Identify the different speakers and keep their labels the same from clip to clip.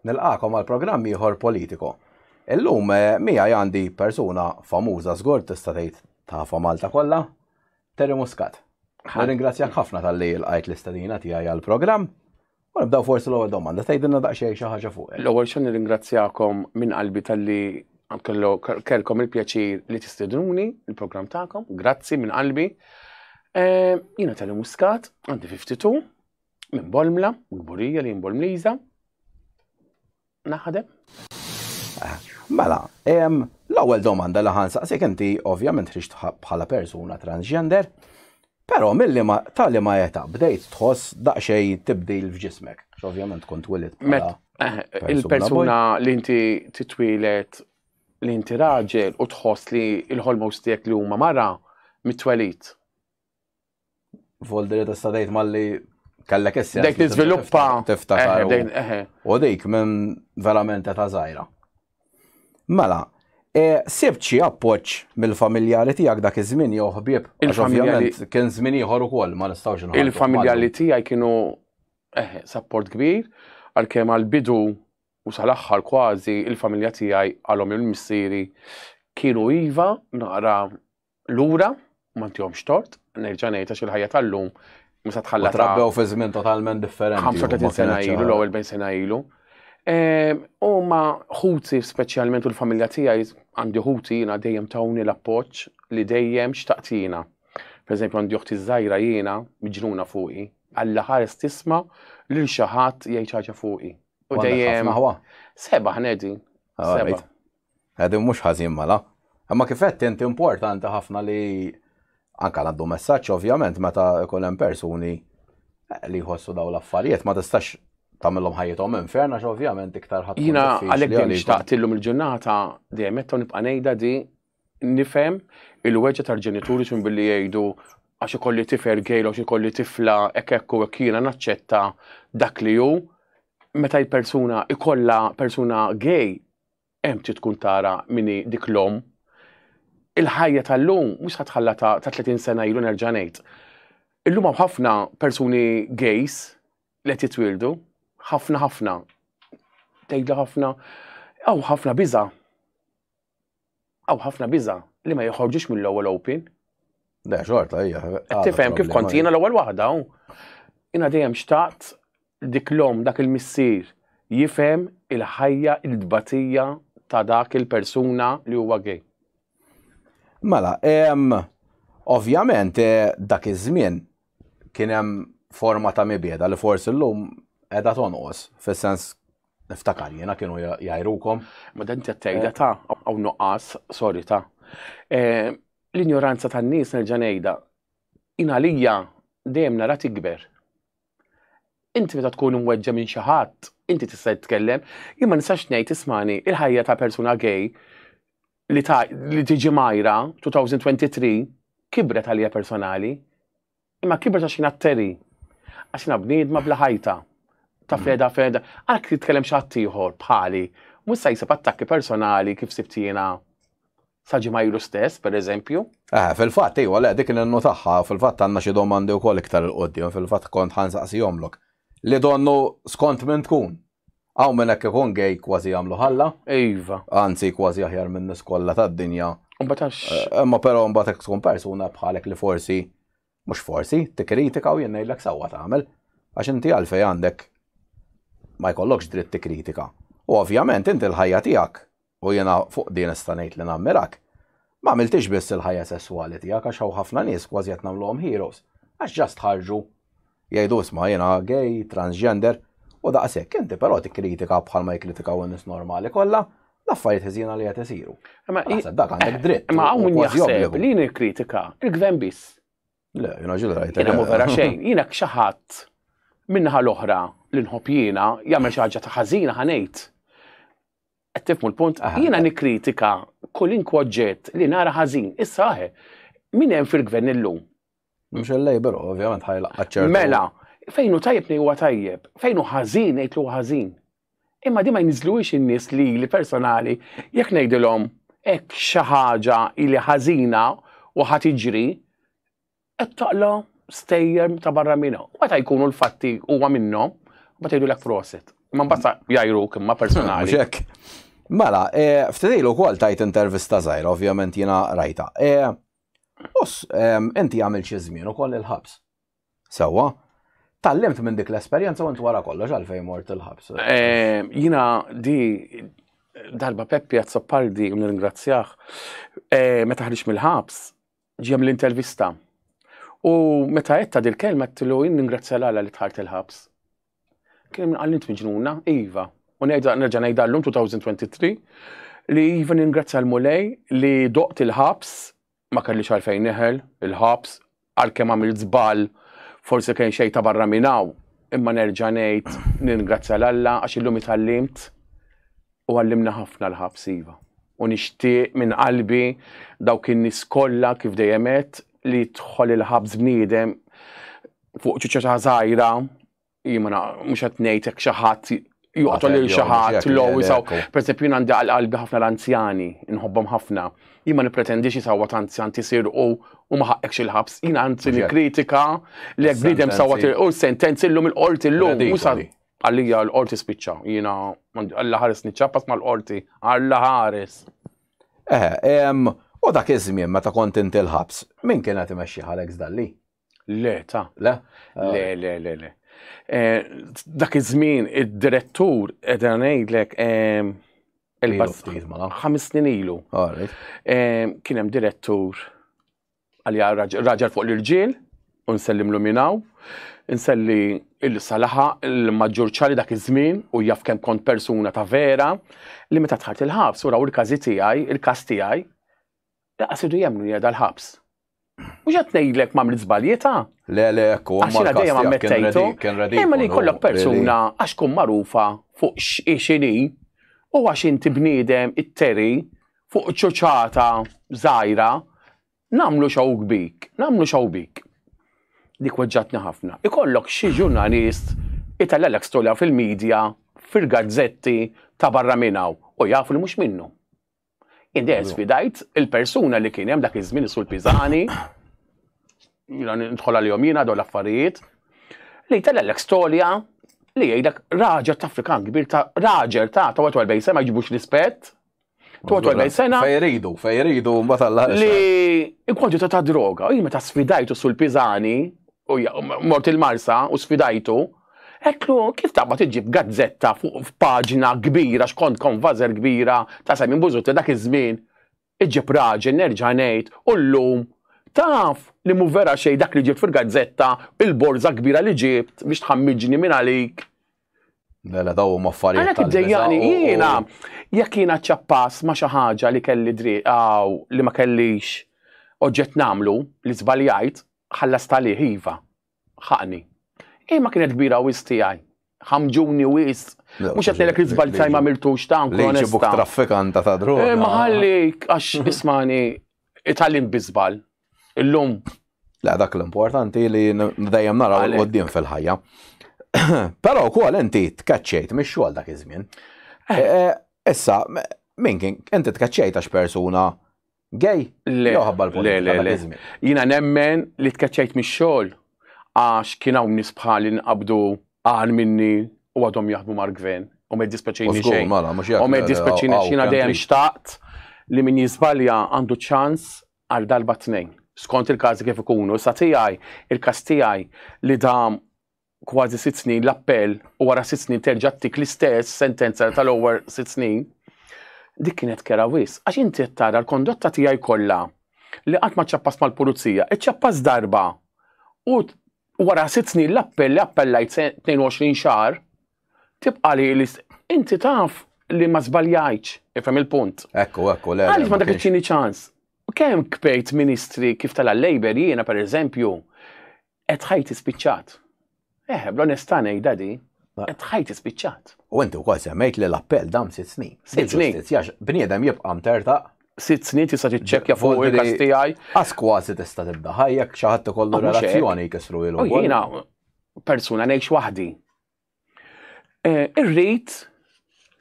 Speaker 1: Nilqakom għal programm ieħor politiko. Illum eh, mija għandi persuna famuża żgur tista' tgħid tafa Malta kollha, Terry Muscat. Ringrazzjak ħafna tal-li l-għajt l-istadina tiegħi għal-programm. U nibdaw forsi l-ewwel domanda, tgħidilna daqsxejn xi ħaġa fuq. L-ewwel xejn nirringrazzjakom
Speaker 2: minn qalbi talli kellkom il-pjaċir li tistednuni il-programm tagħkom. Grazzi minn qalbi. Eh, jiena tal Muscat, għandi 52, minn Bolmla, gburija li jimbolmliża. naħdem?
Speaker 1: Mela, l-ewwel domanda li ħansaqsik inti ovvjament ħriġt bħala persuna transgender, però milli ma tali ma jeta bdejt tħoss daqsxejn tibdil f'ġismek, ovvjament kont twilid bħala. Eh, il-persuna
Speaker 2: li inti titwilet li inti raġel u tħoss li l-ħolmos tiegħek li huma mara mitwelit.
Speaker 1: Folder ta' stadajt malli kellek essi. Dek tiżviluppa.
Speaker 2: Tiftakar.
Speaker 1: U dik minn verament ta' zaħira. Mela, E, sibt xi appoġġ mill-familjari tiegħek dak iż-żmien jew ħbieb. Il-familjari kien żmien ieħor ukoll ma nistgħux nħarsu. Il-familjari tiegħi kienu
Speaker 2: eh, sapport kbir għalkemm għall-bidu u sal-aħħar kważi il-familja tiegħi għalhom il-missieri kienu iva naqra lura, ma ntihomx tort, nerġa' ngħid għax il-ħajja tal-lum mhux se tħalla. Trabbew fi żmien totalment
Speaker 1: differenti. 35 sena ilu,
Speaker 2: l-ewwel bejn sena ilu. Ehm, u ma ħuti speċjalment u l-familja tiegħi għandi ħuti jiena dejjem tawni l-appoġġ li dejjem xtaqtina. Per eżempju għandi uħti żgħira jiena miġnuna fuqi, għalla ħares tisma' lil xi ħadd jgħid ħaġa fuqi. U dejjem. Seba' ħnedi. Ah, Seba'. Qegħdin mhux
Speaker 1: ħażin mela. Imma kif għedt int importanti ħafna li anke għaddu messaġġ ovvjament meta jkun hemm persuni eh, li jħossu daw l-affarijiet ma tistax tagħmilhom ħajjithom inferna għax ovvjament iktar ħadd. Jiena għalhekk dejjem
Speaker 2: xtaqt illum il-ġurnata dejjem qed nibqa' ngħidha di nifhem il-weġġa tal-ġenituri xun billi jgħidu għax ikolli tifer gejl għax ikolli tifla hekk hekk u hekk jiena naċċetta dak li hu meta l-persuna ikolla persuna gej Hemm trid tkun tara min hi dik l-omm. Il-ħajja tal-lum mhux se tħalla ta' 30 sena ilu nerġa' ngħid. Illum hawn ħafna persuni gays li qed jitwieldu, ħafna ħafna. Tgħidha ħafna, hawn ħafna biża'. Hawn ħafna biża' li ma joħorġux mill-ewwel open. Le, xorta
Speaker 1: hija. Tifhem kif kont jiena
Speaker 2: l-ewwel waħda hawn. Jiena dejjem xtaqt dik l-om dak il-missier jifhem il-ħajja il-tbatija ta' dak il-persuna li huwa gej.
Speaker 1: Mela, ovvjament eh, dak iż-żmien kien hemm forma ta' mibjeda li forsi llum qiegħda tonqos, fis-sens Niftakar jiena kienu jgħirukom. Ma dan tgħidha
Speaker 2: ta' hawn nuqqas, sorry ta' eh, l-injoranza tan-nies nerġa' ngħidha. Jien għalija dejjem nara tikber. Inti meta tkun imweġġa minn xi ħadd, inti tista' titkellem, jien ma nistax ngħid ismani il-ħajja ta' persuna gay li ta' li tiġi majra 2023 kibret għalija personali. Imma kibret għax jina t-teri. Għax jina bniedma bla ħajta. Ta' feda feda. Għal kif tkellem xatt ieħor bħali. Mhux se jsib attakki personali kif sibt jiena sa ġimgħa ilu stess, per eżempju. Eh, fil-fatt, iwa,
Speaker 1: le, dik nennu tagħha, fil-fatt għandna xi domandi wkoll iktar il-qudiem, fil-fatt kont ħansaqsihomlok. Li donnu skont minn tkun, Hawn minn hekk ikun gay kważi jagħmlu ħalla. Iva. Anzi
Speaker 2: kważi aħjar
Speaker 1: minn nies kollha tad-dinja. Imbagħad għax. Eh, imma
Speaker 2: però imbagħad hekk tkun
Speaker 1: persuna bħalek li forsi mhux forsi tikkritika u jien ngħidlek sewwa tagħmel għax inti għalfej għandek ma jkollokx dritt tikkritika. U ovvjament inti l-ħajja tiegħek u jiena fuq din nista' ngħid li nammirak, ma għamiltix biss il-ħajja sesswali tiegħek għax hawn ħafna nies kważi qed nagħmluhom heroes għax just ħarġu jgħidu isma' jiena gay, transgender, u daqshekk, inti però tikkritika bħalma jikkritikaw in-nies normali kollha l-affarijiet ħżiena li qed isiru. Ma naħseb dak għandek dritt. Ma hawn min jaħseb
Speaker 2: li nikkritika il-gvern biss. Le, jiena ġil
Speaker 1: rajt. Jiena mu vera xejn, jiena
Speaker 2: xi ħadd minnaħa l-oħra li nħobb jiena jagħmel xi ħaġa ta' ħażina ħanejt. Qed tifmu l-punt? Jiena nikkritika kolinkwa oġġett li nara ħażin. Issa aħe, min hemm fil-gvern illum? Mhux il-Labor,
Speaker 1: ovvjament ħajla qaċċer. Mela, fejn hu
Speaker 2: tajjeb huwa tajjeb, fejn hu ħażin ngħidlu ħażin. Imma di ma jniżluwiex in-nies li li personali jekk ngħidilhom hekk xi ħaġa li ħażina u ħad iġri, Qed taqla stejjer ta' barra minna. U meta jkunu l-fatti huwa minnhom, ma tgħidu lek prosit. Ma mbassa jajru kimma personali. Ġek.
Speaker 1: Mela, eh, ftedilu kol tajt intervista zaħir, ovvjament jina rajta. Eh, us, inti għamil xizmin u koll il-ħabs. Sewa, tallimt minn dik l-esperienza u inti wara kollox għalfej mort il-ħabs. Eh, jina
Speaker 2: di darba Peppi Azzopardi, un ringrazzjaħ, meta ħriġ mill-ħabs, ġie mill-intervista. U meta għetta dil-kelma għattilu jinn ningrazzja l-għala li tħart il-ħabs. Kien minn għallint miġnuna, Iva. U nerġa nejda l-lum 2023 li Iva ningrazzja l-mulej li doqt il-ħabs ma kelli xalfejn neħel il-ħabs għal kem għamil zbal forse kien xej ta' barra minnaw. Imma nerġa nejt ningrazzja l-alla għax illum itallimt U għallimna ħafna l-ħabs iva. U nixtieq minn qalbi dawk in-nies kollha kif dejjem għedt li jidħol il-ħabs bniedem fuq ċuċċa ta' żgħira, jien ma mhux qed ngħid hekk xi ħadd joqtol lil xi ħadd l jisaw. Pereżempju jien għandi għal qalbi ħafna l-anzjani, inħobbhom ħafna. Jien ma nippretendix jisawwa ta' anzjan tisir u u ma ħaqqekx il-ħabs. Jien għandi kritika li jekk bniedem sawwa u sentenzi llum il-qorti llum. Għalija l-qorti spiċċa, jiena għalla ħares niċċappas mal-qorti, għalla ħares. Eh,
Speaker 1: u dak iż-żmien meta kont inti l-ħabs, min kien qed imexxi Alex Dalli? Le, ta.
Speaker 2: Le? Eh. Le,
Speaker 1: le, le, le.
Speaker 2: Eh, dak iż-żmien id-direttur qed ngħidlek eh, il-bas ħames snin ilu. Kien hemm direttur għalija raġel fuq l-irġiel, u nsellimlu minn hawn. Inselli il-salaħa il-maġġur ċali dak iż-żmien u jaf kemm kont persuna ta' vera li meta tħart il-ħabs u raw il-każi tiegħi, il-każ tiegħi, jaqsidu jemnu jgħedha l-ħabs. Mhux qed ngħidlek ma' mrid żbaljita. Le, le, ekku,
Speaker 1: għax jiena dejjem ammettejtu.
Speaker 2: Imma li jkollok persuna għax tkun magħrufa fuq x'inhi u għax inti bniedem it-teri fuq ċoċata żgħira, nagħmlu xewk bik, nagħmlu xewk bik. Dik weġġatni ħafna. Ikollok xi ġurnalist itellgħalek storja fil-media, fil-gazzetti ta' barra minn hawn u jaf li mhux minnu. Jien dejjem sfidajt il-persuna li kien hemm dak iż-żmien isul Piżani, jiena nidħol għalihom jiena dawn l-affarijiet, li jtellgħalek storja li jgħidlek raġel ta' Afrikan kbir ta' raġel ta' ta' wet sema jġibux rispett, 42 sena. Fej iridu, fej iridu,
Speaker 1: mbagħad Alla Li
Speaker 2: il-kwantità ta' droga, u meta sfidajtu sul Piżani u mort il-Marsa u sfidajtu, Eklu, kif taqba tiġib gazzetta fuq f'paġna kbira x'kont konvażer kbira ta' Simon Bużutti dak iż-żmien, iġib raġel nerġa' ngħid u llum taf li mhu vera xejn dak li ġibt fil-gazzetta, il-borża kbira li ġibt biex tħammiġni minn għalik Mela
Speaker 1: daw huma affarijiet. Għalhekk id-dejjani jiena
Speaker 2: jekk jiena ċappas ma' xi ħaġa li kelli dritt aw li ma kellix oġġett nagħmlu li żbaljajt, ħallast għalih iva, ħaqni. Imma kienet kbira wisq tiegħi. Ħamġuni wisq. Mhux qed ngħidlek li żball tiegħi ma għamiltux ta' nkun onesta. Ġibuk traffikanta
Speaker 1: ta' droga. Ma ħallik
Speaker 2: għax ismani itgħallimt bi żball. Illum. La dak
Speaker 1: l-importanti li dejjem naraw l-qoddim fil-ħajja. Però wkoll inti tkaċċejt mix-xogħol dak iż-żmien. Eh. Eh, eh, issa, min kien inti tkaċċejt għax persuna gay? Le,
Speaker 2: le, le, le. Jina nemmen li tkaċċejt mix-xogħol għax kien hawn nies bħali nqabdu għal minni u għadhom jaħdmu mar-gvern u ma jiddispeċini xejn. Mela, u ma jiddispeċini xina dejjem xtaqt li min jizbalja għandu ċans għal darba tnejn, skont il-każi kif ikunu. Sa tiegħi, il-każ tiegħi li dam kważi sitt snin l-appell u wara sitt snin terġa' tik l-istess sentenza tal-ewwel sitt snin, dik kienet kera wis. Għax inti qed tara l-kondotta tiegħi kollha li qatt ma ċċappas mal-pulizija, iċċappas darba u wara sitt snin l-appell li appellajt 22 xahar, tibqa' li inti taf li ma żbaljajtx, ifhem il-punt. Ekku, ekku, le. Għaliex
Speaker 1: ma dak iċini ċans?
Speaker 2: Kemm kpejt ministri kif tal-Labor jiena pereżempju qed ħajti spiċċat. Eh, bl-onestà ngħidha di, qed ħajti spiċċat. U inti wkoll semmejt
Speaker 1: li l-appell dam sitt snin. Sitt snin.
Speaker 2: Bniedem jibqa'
Speaker 1: mtertaq sitt snin tista'
Speaker 2: tiċċekkja fuq il-kas tiegħi. Għas kważi tista'
Speaker 1: tibda ħajjek xi ħadd ikollu ah, relazzjoni jkissru ilu. Jiena
Speaker 2: persuna ngħix waħdi. Eh, irrid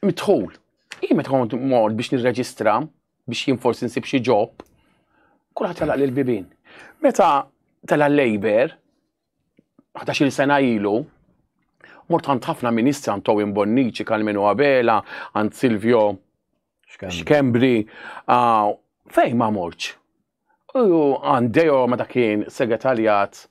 Speaker 2: mitħul. Jien meta kont mor biex nirreġistra biex jien forsi nsib xi ġob, kulħadd jalaq lil bibin. Meta tela' l-Labor, 11 sena ilu, mort għand ħafna ministri għand Towin Bonnici, Kalmenu Abela, għand Silvio Xkembri, ah, fej ma morċ. U Andeo meta kien segretarjat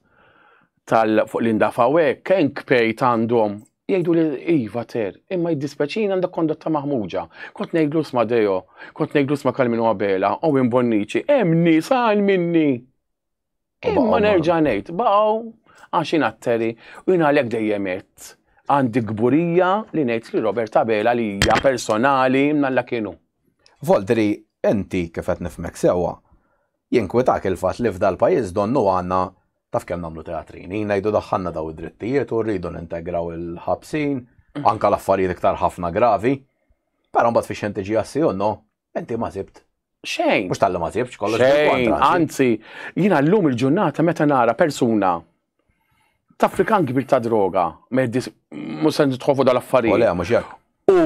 Speaker 2: tal fuq Linda Fawe, kien kpejt għandhom jgħidu li iva ter, imma jiddispeċin għandha kondotta maħmuġa. Kont ngħidlu sma Deo, kont ngħidlu sma Kalminu Abela, u minn Bonnici, hemm nies għal minni. Imma nerġa' ngħid, baqgħu għax inatteri u jien għalhekk dejjem għandi gburija li ngħid li Robert Abela li hija personali mnalla kienu. Voltri,
Speaker 1: Inti, kif qed nifhmek sewwa, jinkwitak il-fatt li f'dal-pajjiż donnu għandna, taf kemm nagħmlu teatrini, ngħidu daħħalna dawn id-drittijiet u rridu nintegraw il-ħabsin, anke l-affarijiet iktar ħafna gravi. Però mbagħad fix-xejn tiġi għas-si u no, inti ma sibt. Xejn. Mhux talli
Speaker 2: ma sibtx, kollox
Speaker 1: bil-kontra. Xejn, anzi,
Speaker 2: jiena llum il-ġurnata meta nara persuna traffikant kbir ta' droga, mhux se nidħol fuq dal-affarijiet. U le, mhux hekk.
Speaker 1: U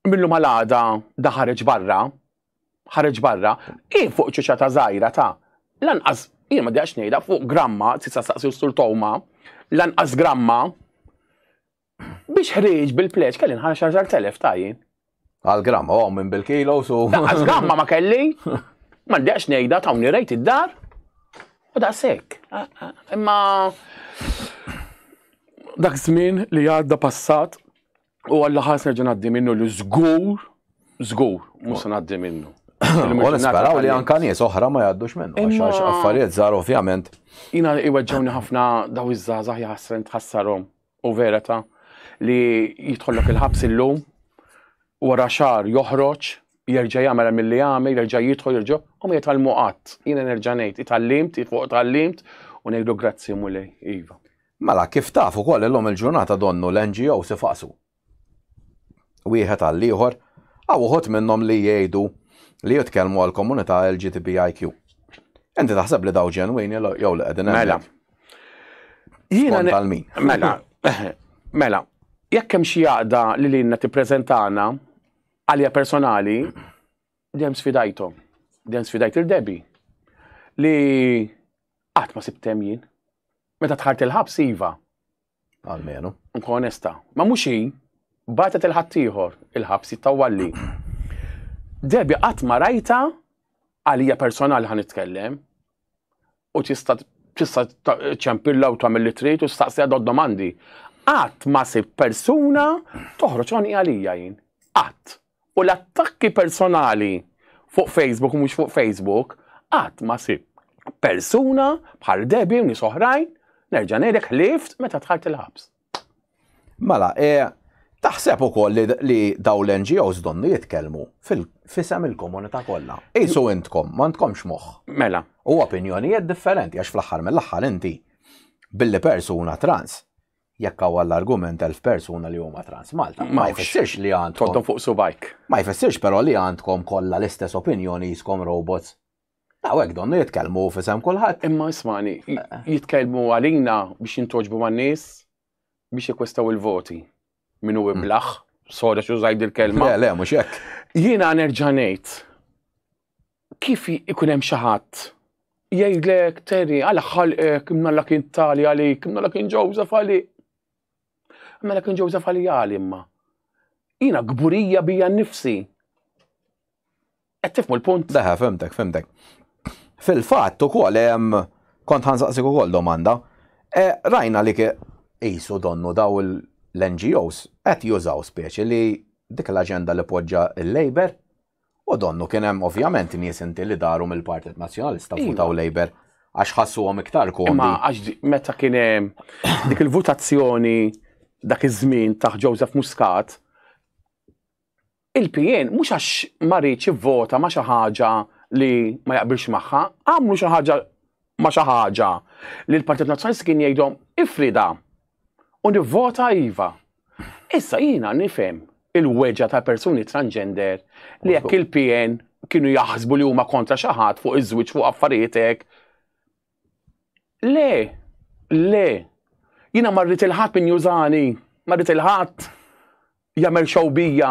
Speaker 2: Millum għal għada da ħareġ barra, ħareġ barra, kif fuq ċiċa ta' żgħira ta' lanqas jien ma dijax ngħidha fuq gramma, tista' staqsi sur Toma, lanqas gramma biex ħrieġ bil-pleċ kelli nħarġ 10,000 ta' jien. Għal gramma, għom
Speaker 1: minn bil-kilo su. Lanqas gramma ma kelli,
Speaker 2: ma dijax ngħidha ta' rejt id-dar. U da' sekk. Imma dak żmien li għadda passat U għalla ħas nerġa' ngħaddi minnu li żgur, żgur, mhux se ngħaddi minnu. U nisperaw
Speaker 1: li anka nies oħra ma jgħaddux minnu, għax affarijiet żgħar ovvjament. Jina iweġġawni
Speaker 2: ħafna daw iż-żgħażagħ jaħsren tħassarhom u vera ta' li jidħollok il-ħabs illum wara xar joħroġ jerġa' jagħmel milli jagħmel, jerġa' jidħol, jerġa' u ma jitgħallmu qatt. Jiena nerġa' ngħid, itgħallimt, fuq itgħallimt u ngħidu grazzi mulej, iva. Mela, kif taf
Speaker 1: ukoll illum il-ġurnata donnu l-NGOs ifaqsu wieħed għall-ieħor, hawn uħud minnhom li jgħidu li jitkellmu għall-komunità LGTBIQ. Inti taħseb li daw ġenwini jew li qegħdin Mela. Jiena għal min. Mela.
Speaker 2: Mela. Jekk hemm xi għaqda li lilna tippreżentana għalja personali, dem sfidajthom. Dem sfidajt il-debi. Li Qatt ma sibt hemm jien. Meta tħart il-ħabs iva. Almenu.
Speaker 1: Nkun onesta.
Speaker 2: Ma mhux hi, batet il-ħaddieħor il-ħabs jittawalli. Debi qatt ma rajta għalija personali ħan nitkellem u tista' tista' ċempilla u tagħmel li trid u staqsija dod domandi. Qatt ma sib persuna toħroġ għoni għalija jien. Qatt. U l-attakki personali fuq Facebook u mhux fuq Facebook qatt ma sib persuna bħal Debbie u nies oħrajn nerġa' ngħidlek ħlieft meta dħalt il-ħabs.
Speaker 1: Mela, e, Taħseb ukoll li, li daw l-NGOs donnu jitkellmu fil-fisem il-komunità kollha. Isu intkom, ma ntkomx moħħ. Mela. U
Speaker 2: opinjonijiet
Speaker 1: differenti għax fl-aħħar mill-aħħar inti billi persuna trans jekk hawn l-argument elf persuna li huma trans Malta. Ma jfissirx li għandkom. Tontom fuq subajk. Ma
Speaker 2: jfissirx però li
Speaker 1: għandkom kollha l-istess opinjoni jiskom robots. Għawek donnu jitkellmu fisem kulħadd. Imma ismani, eh, eh.
Speaker 2: jitkellmu għalina biex jintoġbu man nies biex jikwestaw il-voti. Minu hmm. iblaħ, soda xu zajd il-kelma. Le, le, mux jekk.
Speaker 1: Jina nerġanejt
Speaker 2: kif ikun hemm xi ħadd jgħidlek Terry għala ħalqek imnalla kien tali għalik, imnalla kien Joseph għalik. Imnalla kien Joseph għali għali imma. Jina gburija bija nifsi. Qed tifmu l-punt? Leħa, femtek, femtek.
Speaker 1: Fil-fatt ukoll hemm kont ħansaqsik ukoll domanda. E, rajna li qisu donnu daw l-NGOs qed jużaw speċi li dik l-aġenda li poġġa l-Labor U donnu kien hemm ovvjament nies inti li daru mill-Partit Nazzjonalista iva. votaw Labour għax ħassuhom iktar komdi. Ma għax meta
Speaker 2: kien hemm dik il-votazzjoni dak iż-żmien taħ Joseph Muscat, il-PN mhux għax ma rridx ivvota ma xi ħaġa li ma jaqbilx magħha, għamlu xi ħaġa ma xi ħaġa li l-Partit Nazzjonalista kien jgħidhom ifrida u nivvota iva. Issa jiena nifhem il-weġa ta' persuni transgender li jekk il-PN kienu jaħsbu li huma kontra xi ħadd fuq iż-żwieġ fuq affarietek. Le, le, jiena marrit il-ħadd min jużani, marrit il-ħadd jagħmel xewbija.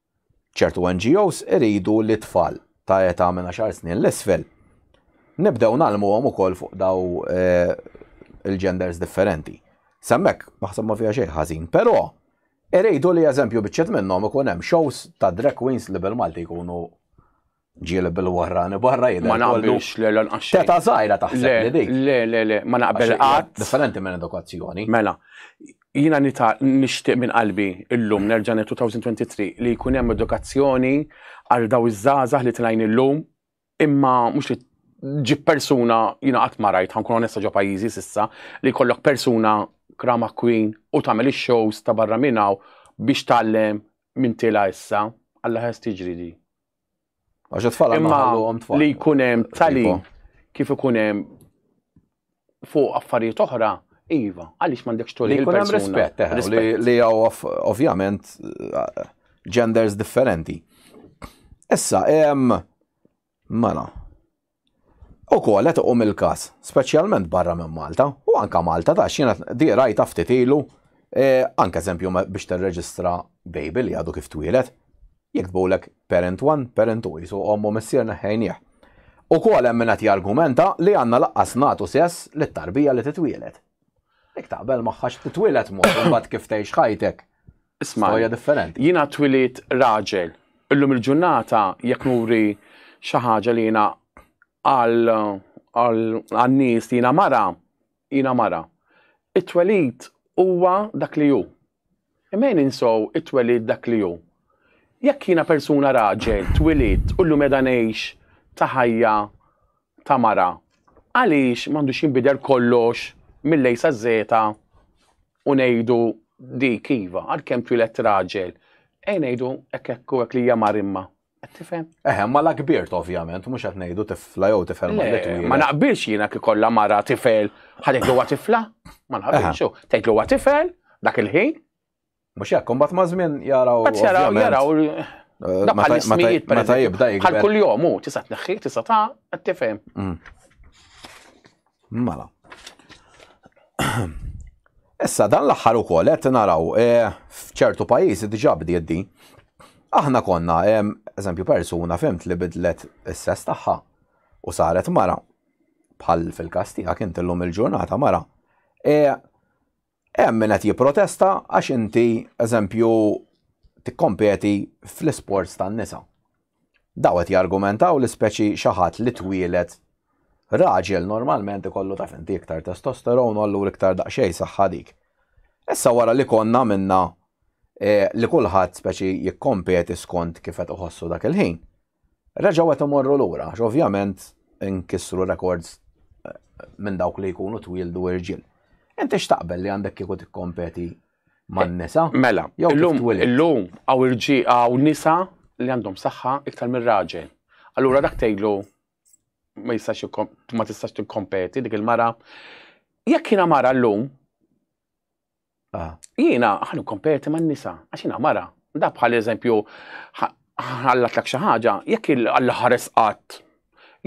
Speaker 1: Ċertu NGOs iridu li t-tfal ta' età minn għaxar snin 'l isfel nibdew ngħallmuhom ukoll fuq daw il-genders differenti. S'hemmhekk naħseb ma fiha xejn ħażin, però iridu li eżempju biċċiet minnhom ikun hemm shows ta' drag queens li bil-Malti jkunu ġieli bil-wahrani barra jidher. Ma naqbilx le lanqax.
Speaker 2: Teta żgħira taħseb
Speaker 1: li dik. Le, le, le, ma naqbel
Speaker 2: qatt. Differenti minn edukazzjoni.
Speaker 1: Mela,
Speaker 2: jiena nixtieq minn qalbi illum nerġa' 2023 li jkun hemm edukazzjoni għal daw iż-żgħażagħ li tlajn illum imma mhux li ġib persuna jiena qatt ma rajt ħankun onesta ġo pajjiżi s'issa li jkollok persuna krama queen u tagħmel ix-shows ta' barra minn hawn biex tgħallem minn tilha issa. Alla ħares tiġri di. Għax
Speaker 1: it-tfal għandhom ħalluhom tfal. Li jkun
Speaker 2: hemm talim kif ikun hemm fuq affarijiet oħra, iva, għaliex m'għandekx tolli. Li jkun hemm rispett, eh,
Speaker 1: li hawn ovvjament eh, genders differenti. Issa, hemm mela, Ukoll qed iqum il-każ, speċjalment barra minn Malta, u anke Malta tax jiena di rajtha ftit ilu, anke eżempju biex tirreġistra baby li għadu kif twieled, jiktbulek parent one, parent two, qisu omm u missier neħħejnieh. Ukoll hemm min qed jargumenta li għandna lanqas nagħtu sess lit-tarbija li titwieled. Jek taqbel maħħa x'titwilet mod imbagħad kif tgħix ħajtek. Isma' hija
Speaker 2: differenti. Jiena
Speaker 1: twilit
Speaker 2: raġel. Illum il-ġurnata jekk nuri xi ħaġa li jiena għal nies li jiena mara, jiena mara. It-twelid huwa dak li hu. Imma ninsow it-twelid dak li hu. Jekk jiena persuna raġel, twilit, u llum meda ngħix ta' ħajja ta' mara, għaliex m'għandux jinbidel kollox mill-A saż-Żeta u ngħidu dik iva, għalkemm twieled raġel, ejn ngħidu hekk hekk u hekk li hija mar imma. Qed tifhem? Eħe, imma la kbirt
Speaker 1: ovvjament, mhux qed ngħidu tifla jew tifel ma li twieled. Ma naqbilx jiena kif
Speaker 2: kollha mara tifel, ħa tgħidlu huwa tifla? Ma naqbilx, tgħidlu huwa tifel dak il-ħin, Mux jekk,
Speaker 1: kumbat ma' żmien jaraw. Bat jaraw, jaraw.
Speaker 2: Eh, bħal ismijiet per
Speaker 1: Bħal kull jom, u tisa
Speaker 2: tneħħi, tisa ta' għattifem. Mm.
Speaker 1: Mala. Issa dan l-aħħar ukoll qed naraw eh, f'ċertu pajjiżi diġà bdiet din. Aħna konna, eżempju persuna fimt li bidlet is-sess tagħha u saret mara bħal fil-kas tiegħek inti llum il-ġurnata mara. Eh, Hemm min qed jipprotesta għax inti, eżempju, tikkompeti fl-isports tan-nisa. Daw qed jargumentaw li speċi xi ħadd li twieled raġel normalment ikollu taf inti iktar testosterone u allura iktar daqsxejn saħħa dik. Issa wara li konna għamilna eh, li kulħadd speċi jikkompeti skont kif qed iħossu dak il-ħin, Reġgħu qed imorru lura għax ovvjament inkissru rekords minn dawk li jkunu twieldu irġiel. Inti x'taqbel li għandek kieku tikkompeti man-nisa? Mela, illum
Speaker 2: illum hawn irġiel hawn nisa li għandhom saħħa iktar mir-raġel. Allura dak tgħidlu ma jistax ma tistax tikkompeti dik il-mara. Jekk jiena mara llum Ah. Jiena ħan ikkomperti man-nisa, għax jiena mara. Da bħal eżempju ħallatlek xi ħaġa, jekk il-Alla ħares qatt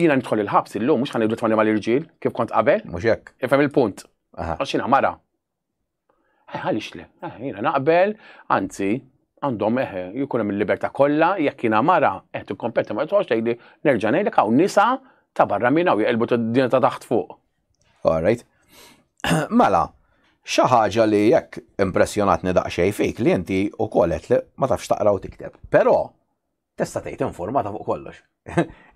Speaker 2: jiena nidħol il-ħabs illum mhux ħanibdu tmani mal-irġiel kif kont qabel. Mhux hekk. Ifhem il-punt. Għax jiena mara. Eh, għaliex le, eh, jiena naqbel, anzi, għandhom eħe, eh, jkun hemm il-libertà kollha jekk jiena mara qed ikkompeti ma tħoss tgħidli nerġa' ngħidlek hawn nisa ta' barra minna u jqelbu t-dinja ta' taħt fuq. Alright.
Speaker 1: Mela, xi ħaġa li jekk impressjonatni daqsxejn fik li inti wkoll qed li ma tafx taqra u tikteb. Però tista' tgħid informata fuq kollox.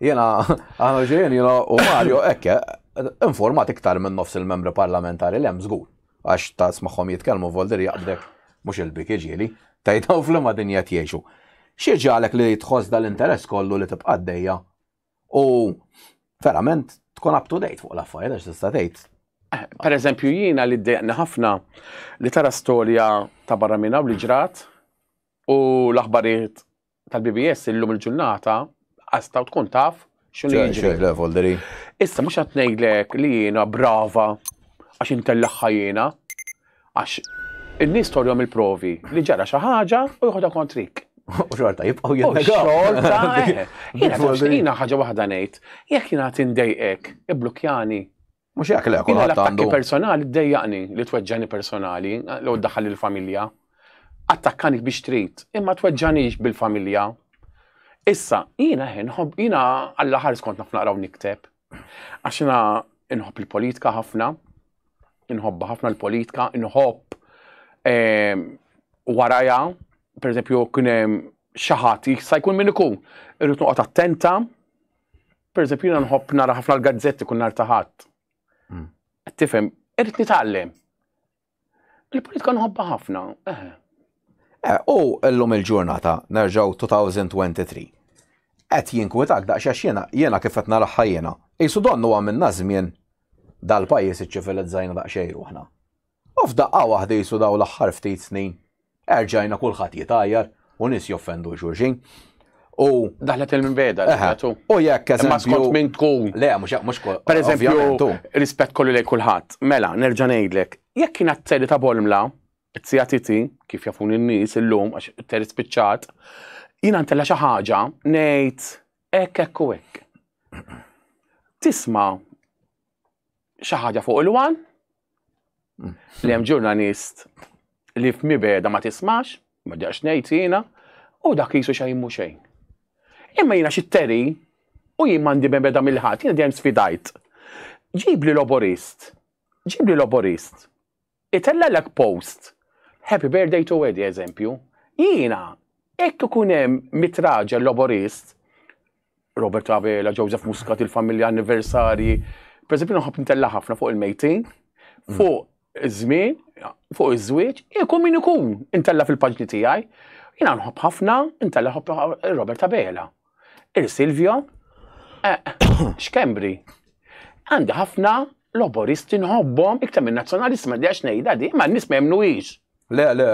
Speaker 1: Jiena aħna ġejjin jiena u Mario hekk eh, informat iktar minn nofs il-membri parlamentari li hemm żgur. Għax ta' smagħhom jitkellmu voldir jaqbdek mhux il-bik iġieli, tajtaw fl-ma dinja jgħixu. Xi ġalek li tħoss dal-interess kollu li tibqa' dejja U verament tkun up to date fuq l-affarijiet għax tista' tgħid. Eh, per eżempju
Speaker 2: jiena li ddejqni ħafna li tara storja ta' barra minna u li ġrat u l-aħbarijiet tal-BBS illum il-ġurnata għastaw tkun taf xinu jiġri. Issa mhux qed ngħidlek li jiena brava għax intellaħħa jiena. Għax in-nies torjhom il-provi li ġara xi ħaġa u joħodha kontrik.
Speaker 1: U xorta jibqgħu jinnegaw. Xorta, eh.
Speaker 2: jiena ħaġa waħda ngħid, jekk jiena tindejqek, iblukjani. Mhux jekk le,
Speaker 1: kulħadd għandu. personali
Speaker 2: ddejjaqni li tweġġani personali, li daħal il-familja. Attakkani biex trid, imma tweġġanix bil-familja. Issa, jiena ħin, jiena għall-ħar skont naf naqraw nikteb, Għax jiena inħobb il-politika ħafna, inħobba ħafna l-politika, inħobb ehm, waraja, per eżempju, kien hemm xi ħadd jista' jkun min ikun, irrid noqgħod attenta, per eżempju, jiena nħobb nara ħafna l-gazzetti kun nar taħat. Mm. Tifhem, irrid nitgħallem. Il-politika nħobba ħafna, eh.
Speaker 1: eh u l-lum il-ġurnata, nerġaw 2023. Qed jinkwitak daqsxax jena, jena kif qed naraħħa jena. Isu donnu għamilna żmien dal-pajjiż iċċivilizzajna daqsxejn ruħna. U f'daqqa waħda jisu daw l-aħħar ftit snin Erġajna kulħadd jitgħajjar u nies joffendu xulxin. U daħlet il-minbeda,
Speaker 2: eżempju. U jekk
Speaker 1: eżempju. Ma skont minn tkun.
Speaker 2: Le, mhux mhux kol.
Speaker 1: Per eżempju,
Speaker 2: rispett kollu lejn kulħadd. Mela, nerġa' ngħidlek, jekk kien għat-teri ta' Bolmla, it-sija titi, kif jafun in-nies illum għax it-teri spiċċat, jiena ntella xi ħaġa ngħid hekk hekk u hekk. Tisma' xi ħaġa fuq il-wan, Li hemm ġurnalist li f'mibeda ma tismax, ma ġax ngħid jiena, u dak jisu xejn mhu xejn. Imma jiena xi teri u jien m'għandi beda mill-ħadd, jiena dejjem sfidajt. Ġib li loborist, ġib li loborist, itellelek post, happy birthday to Eddie eżempju, jiena hekk ikun hemm mitraġel loborist, Robert Abela, Joseph Muscat, il-familja anniversarji. Per eżempju, nħobb nitella ħafna fuq il-mejtin, mm. fuq iż-żmien, fuq iż-żwieġ, ikun min ikun intella fil-paġni tiegħi. Jiena nħobb ħafna intella ħobb Robert Abela. Il-Silvio, eh, xkembri. Għandi ħafna loboristi nħobbhom iktar minn nazzjonalisti ma dijax ngħidha di, ma n-nies ma jemnuhiex. Le, le,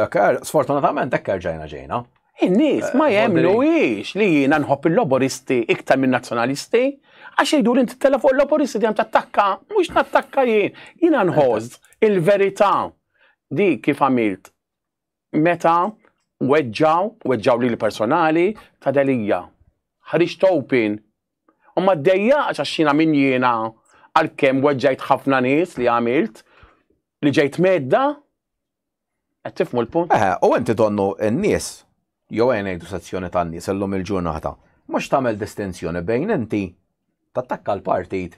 Speaker 1: sfortunatament hekk erġajna ġejna. In-nies ma
Speaker 2: eh, jemnuwix li jiena nħobb il-loboristi iktar minn nazzjonalisti, għax jgħidu li inti tella fuq il-loboristi dejjem tattakka, mhux nattakka jien. Jiena nħoss il-verità di kif għamilt meta weġġaw, weġġaw li l-personali ta' delija. Ħriġt open. U ma d-dejja għax jiena minn jiena għal-kem weġġajt ħafna nies li għamilt, Li ġejt medda? Qed tifmu l-punt? Eh, u inti donnu
Speaker 1: n-nies, jew għajn ngħidu sezzjoni tan-nies illum il-ġurnata, mhux tagħmel distinzjoni bejn inti tattakka l-partit,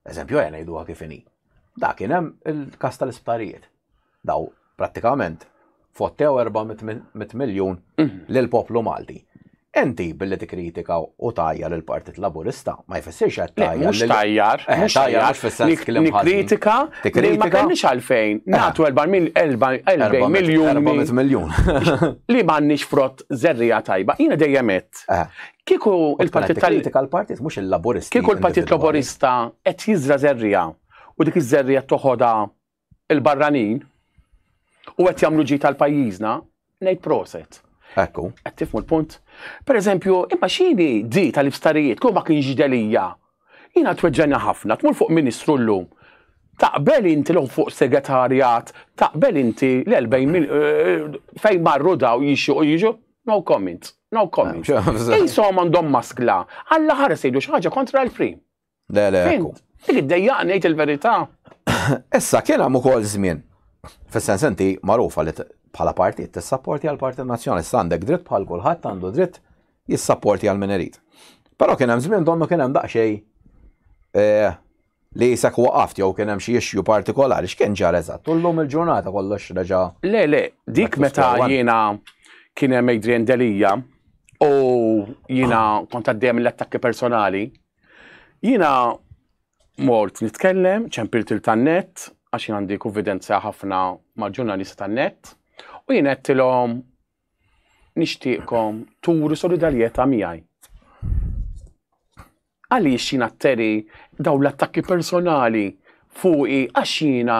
Speaker 1: eżempju għajn ngħidu kif inhi. Dak kien hemm il-kas tal-isptarijiet. Daw prattikament fottew 400 miljun lil poplu Malti. Enti billi tikkritika u tajja lil Partit Laburista, ma jfissirx qed tajja. Mhux tajjar, eh,
Speaker 2: mhux tajjar, mhux fis-sens klim Tikkritika, tikkritika. Ma kellniex għalfejn. Eh. Nagħtu 4 miljun. 400 miljun. Li m'għandniex frott zerrija tajba. Jiena dejjem qed. Eh. Kieku il-Partit Kritika
Speaker 1: l-Partit mhux il-Laburista. Kieku l-Partit Laburista
Speaker 2: qed jiżra zerrija u dik iż-żerrija toħodha il-barranin u qed jagħmlu ġid għal pajjiżna, ngħid proset. Ekku. Qed tifmu
Speaker 1: l-punt.
Speaker 2: Per eżempju, imma xini di tal-iftarijiet, kull ma kienx delija. Jiena tweġġena ħafna, tmur fuq ministru llum. Taqbel inti l fuq segretarjat, taqbel inti l-40 eh, eh, fejn marru daw jixu u jiġu. No comment, no comment. Insom għandhom maskla, għalla ħares jgħidu xi ħaġa kontra l-frim. Le, le,
Speaker 1: ekku. Dik id-dejja ngħid
Speaker 2: il-verità. Issa
Speaker 1: kien hemm ukoll żmien. Fis-sens inti magħrufa li bħala partit tissapporti għal partit nazzjonali għandek dritt bħal kulħadd għandu dritt jissapporti għal min irid. Però kien hemm żmien donnu kien hemm daqsxejn eh, li jisak waqaft jew kien hemm xi issue partikolari x'kien ġar eżatt. U llum il-ġurnata kollox reġa'. Le, le, dik
Speaker 2: meta jiena kien hemm Adrian Delija u jiena kont għaddejjem l-attakki personali Jiena mort nitkellem, ċempilt il tan-net, għax jien għandi konfidenza ħafna ma' ġurnalista tan-net, u jien għedtilhom nixtieqkom turu solidarjetà miegħi. Għaliex jiena tteri daw l-attakki personali fuqi għax jiena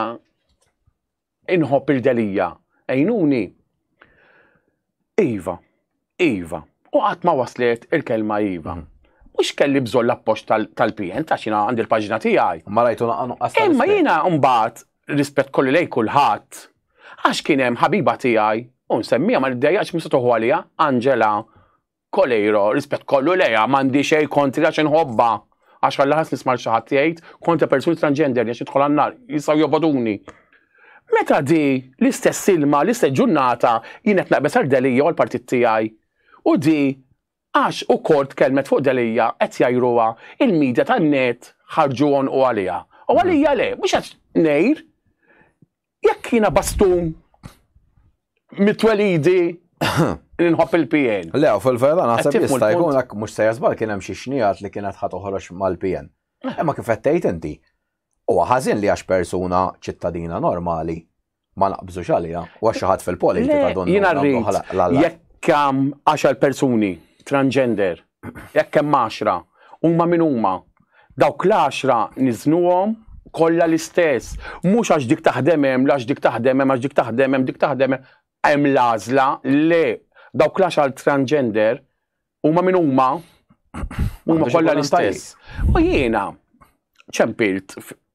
Speaker 2: Inħobb il-Delia. Għinuni. Iva. Iva. U qatt ma waslet il-kelma iva. Mhm. Mhux kelli bżonn l-appoġġ tal-PN ta' xina għandi l-paġna tiegħi. Ma rajtu naqanu qasta.
Speaker 1: Imma jiena mbagħad
Speaker 2: rispett kolli lej kulħadd għax kien hemm ħabiba tiegħi u nsemmija ma niddejjaqx mista toħu għalija Angela Coleiro, rispett kollu lejha, m'għandi xejn kontri għax inħobbha. Għax ħalla ħass nisma' xi ħadd jgħid kontra persuni transgender għax jidħol għan-nar, jistgħu joboduni. Meta di l-istess ilma, l-istess ġurnata jien qed naqbeż għal Delia u l-partit tiegħi. U di għax ukoll tkellmet fuq Delia qed jgħajruha il-media tan-net ħarġu għonqu għaliha. U għalija le, mhux għax ngħir Jekk jiena bastun mitwelidi li nħobb il-PN. Le, u fil-vera naħseb
Speaker 1: jista' jkun hekk mhux se jasbal kien hemm xi xnijat li kienet ħa toħroġ mal-PN. Eh. Imma kif qed tgħid inti, huwa ħażin li għax persuna ċittadina normali ma naqbżux għalija u għax ħadd fil-politika dun. Jiena rrid
Speaker 2: jekk hemm għaxar persuni transgender Jekk hemm għaxra, huma min huma? Dawk l-għaxra niżnuhom kollha l-istess. Mhux għax dik taħdem hemm, għax dik taħdem hemm, għax dik taħdem hemm, dik taħdem hemm. Hemm l-għażla, le. Dawk l-għaxar transgender huma min huma? Huma kollha l-istess. U jiena ċempilt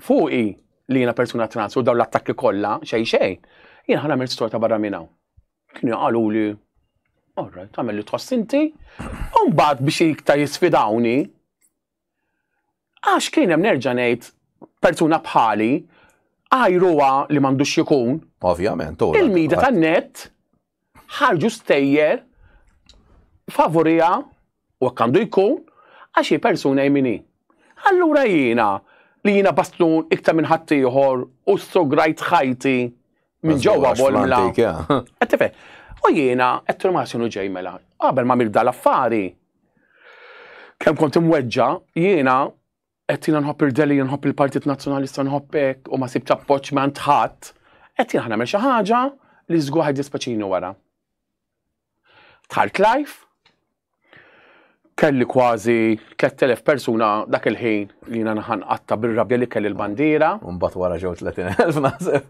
Speaker 2: fuqi li jiena persuna trans u dawn l-attakki kollha xejn xejn, jien ħa nagħmel storta barra minn hawn. Kienu qalu li Orra, tagħmel li tħoss inti. U mbagħad biex iktar jisfidawni. Għax kien hemm nerġa' ngħid persuna bħali għajruha li m'għandux ikun. Ovvjament,
Speaker 1: Il-mida tan-net
Speaker 2: ħarġu stejjer favoriha u hekk għandu jkun għax hi persuna jmini. Allura jiena li jiena bastun iktar minn ħaddieħor u sograjt ħajti minn ġewwa bolmla. Għattife, u jiena qed ma sinu ġej mela. Qabel ma mil dal-affari, kemm kont imweġġa, jiena qed jiena nħobb il-Delhi, nħobb il-Partit Nazzjonalista nħobb hekk u ma sibx appoġġ ma ntħadd, qed jiena nagħmel xi ħaġa li żgur ħed dispeċini wara. Tħalt life, kelli kważi 3000 persuna dak il-ħin li jiena naħan qatta bir-rabja li kelli l-bandiera. Mbagħad wara ġew 30,000
Speaker 1: naħseb.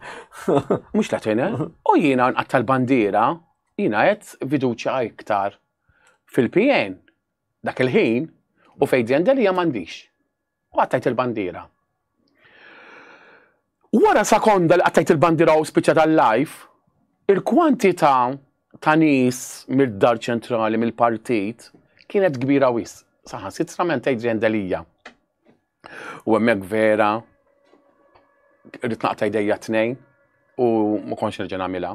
Speaker 1: Mhux 30,000,
Speaker 2: u jiena nqatta l-bandiera, jiena qed fiduċja iktar fil-PN Dak il-ħin, u fejn Ziandelia m'għandix. U qattajt il-bandiera. Wara sekonda li qattajt il-bandiera u spiċċa tal-live, il-kwantità ta' nies mid-dar ċentrali mill-partit kienet kbira wisq. Saħansitra mentejt Ziandelia. U hemmhekk vera rrid naqta' jdejja tnejn u ma kontx nerġa' nagħmilha.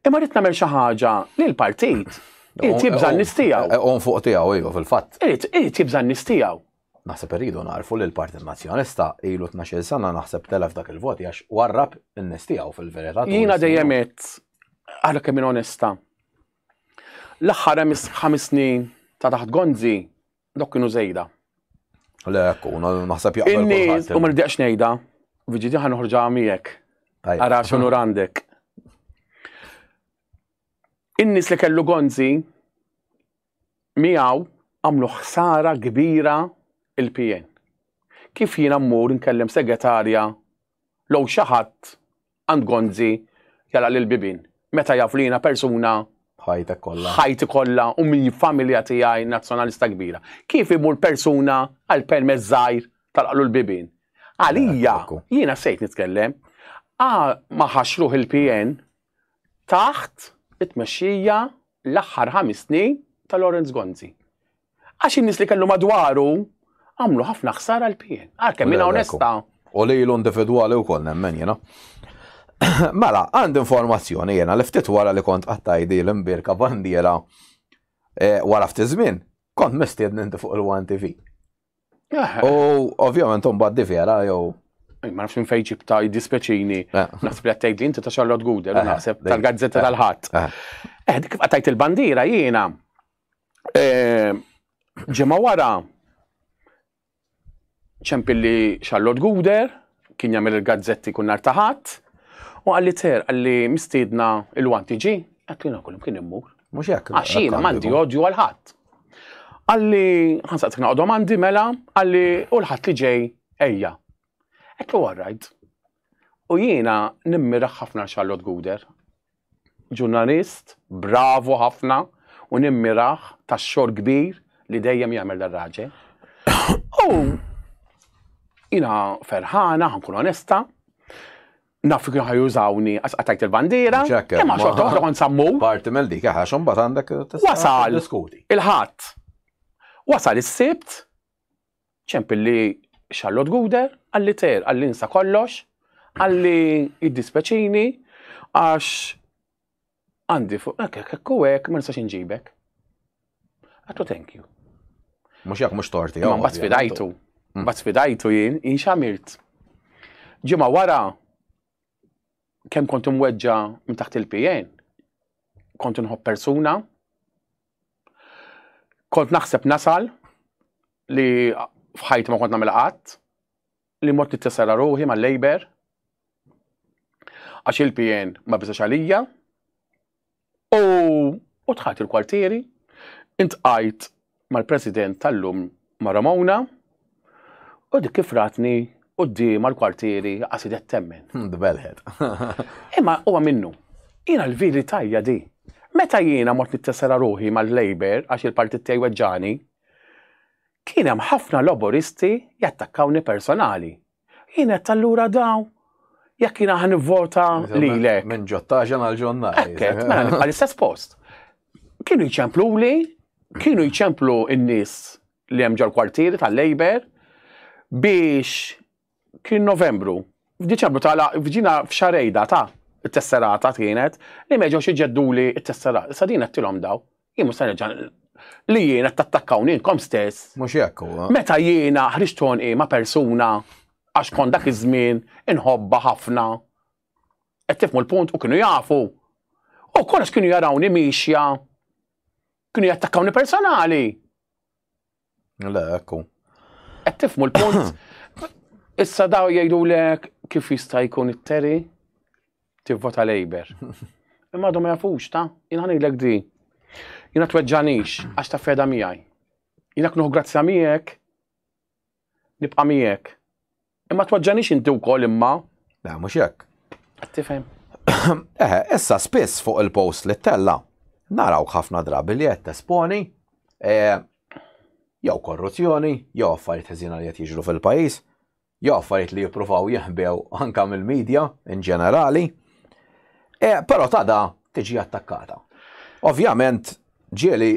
Speaker 2: Imma rrid nagħmel xi ħaġa li l-partit irid jibża' n-nies tiegħu. Eh, on fuq tiegħu iva
Speaker 1: fil-fatt. Irid jibża' n-nies
Speaker 2: tiegħu. Naħseb irridu
Speaker 1: narfu li l-Partit Nazzjonista ilu 12 sena naħseb telef dak il-voti għax warrab in-nies tiegħu fil-verità. Jiena dejjem qed
Speaker 2: għalhekk kemm onesta. L-aħħar hemm ħames snin ta' taħt Gonzi Dok kienu żejda. Le,
Speaker 1: ekku, naħseb jaqbel. In-nies, u ma rridx
Speaker 2: ngħidha, viġidi ħan uħrġa miegħek. Ara x'unur għandek. In-nies li kellu gonzi miegħu għamlu ħsara kbira il-PN. Kif jiena mmur nkellem segretarja low xi ħadd għand Gonzi jala lil bibin. Meta jaf li jiena persuna ħajtek kollha. Ħajti kollha u minn familja tiegħi nazzjonalista kbira. Kif imur persuna għal permess żgħir tal-qlu l-bibin? Għalija, jiena sejt nitkellem, ma ħaxruħ il-PN taħt it-tmexxija l-aħħar ħames snin ta' Lawrence Gonzi. Għax in-nies li kellu madwaru għamlu ħafna ħsara l-pien. Għalkemm minn onesta. U li l
Speaker 1: individwali wkoll nemmen jiena. Mela, għand informazzjoni jiena li ftit wara li kont għattajdi l-imbirka bandiera eh, wara ftit żmien, kont mistiedni inti fuq il-One TV. Eh. U ovvjament un bad vera jew ma nafx minn fejn
Speaker 2: ġibta jiddispeċini. Eh. Naħseb li għattajt li inti ta' Charlotte Guder, eh, naħseb tal-gazzetta eh. tal-ħadd. Eh, dik kif għattajt il-bandira jiena. Ġimgħa wara, ċempilli Charlotte Guder, kien jagħmel il-gazzetti kull nhar ta' Ħadd, u qalli Ter, qalli mistiedna Ilwan tiġi, għedt li kull kien immur. Mhux
Speaker 1: hekk. Għax jiena m'għandi odju
Speaker 2: għal ħadd. Qalli ħansaqsik naqgħodhom għandi mela, qalli u l-ħadd li ġej ejja. Għedt li all right. U jiena nimmiraħ ħafna Charlotte Guder. Ġurnalist bravu ħafna u nimmirah tax-xogħol kbir li dejjem jagħmel dan raġel. U jiena ferħana, ħankun onesta, naf kienu ħajużawni għax qatajt il-bandiera, imma xorta waħda kont sammur. Parti mill dik, għax
Speaker 1: imbagħad għandek Wasal diskuti.
Speaker 2: Il-ħadd. Wasal is-sibt ċempilli Charlotte Guder, għalli ter, għalli nsa kollox, għalli jiddispeċini, għax għandi fuq, ekk, ekk, ekk, ma nistax inġibek. Għattu thank you. Mux jak mux
Speaker 1: torti, għu. Bat sfidajtu,
Speaker 2: mm. bat sfidajtu jien, jien xamilt. Ġima wara, kem kontum weġġa minn taħt il-PN, kontum nħob persuna, Kont naħseb nasal li f'ħajti ma kont nagħmel qatt li mort nittessera ruħi mal-Labour għax il-PN ma biżax għalija u tħat il-kwartieri intqajt mal-President tal-lum ma' Ramona u dik kif ratni qudiem għal-kwartieri qasidet temmen. Hmm, Dbelħet.
Speaker 1: Imma
Speaker 2: huwa minnu. Jiena l-vili tajja di. Meta jiena mort nittessera ruħi mal-Labour għax il-partit tiegħi weġġani, kien hemm ħafna Laboristi jattakkawni personali. Jien qed allura daw jekk jiena ħan nivvota lilek. Minn ġottaġan għal
Speaker 1: ġonna. Ekket, mela nibqa' l-istess
Speaker 2: post. Kienu jċemplu li, kienu jċemplu n-nies li hemm ġol-kwartieri tal-Labor biex kien Novembru. F'Diċembru tala f'ġina f'xarejda ta' t-tesserata kienet li meġgħux iġedduli t-tesserata. Sa din qed tilhom daw. Jien mhux se nerġa' li jiena tattakkawni inkom stess. Mhux jekk huwa. Meta
Speaker 1: jiena ħriġt
Speaker 2: tonqi ma' persuna għax kon dak iż-żmien inħobba ħafna. Qed tifmu l-punt u kienu jafu. U kollox kienu jarawni mixja. Kienu jattakkawni personali.
Speaker 1: Le, ekku. Qed tifmu
Speaker 2: l-punt. Issa daw jgħidu lek kif jista' jkun it-teri tivvota Labour. Imma għadhom ma jafux ta' jien ħanidlek di. Jiena tweġġanix għax ta' feda miegħi. Jiena knuħ grazzja miegħek nibqa' miegħek. Imma twaġġanix inti wkoll imma. Le, mhux hekk.
Speaker 1: Tifhem.
Speaker 2: Eħe,
Speaker 1: issa spiss fuq il-post li tella, naraw ħafna drabi li qed tesponi e, jew korruzzjoni, jew affarijiet ħżina li qed jiġru fil-pajjiż, jew affarijiet li jippruvaw jeħbew anka mill-medja in ġenerali. E, però tada tiġi attakkata. Ovvjament, Ġieli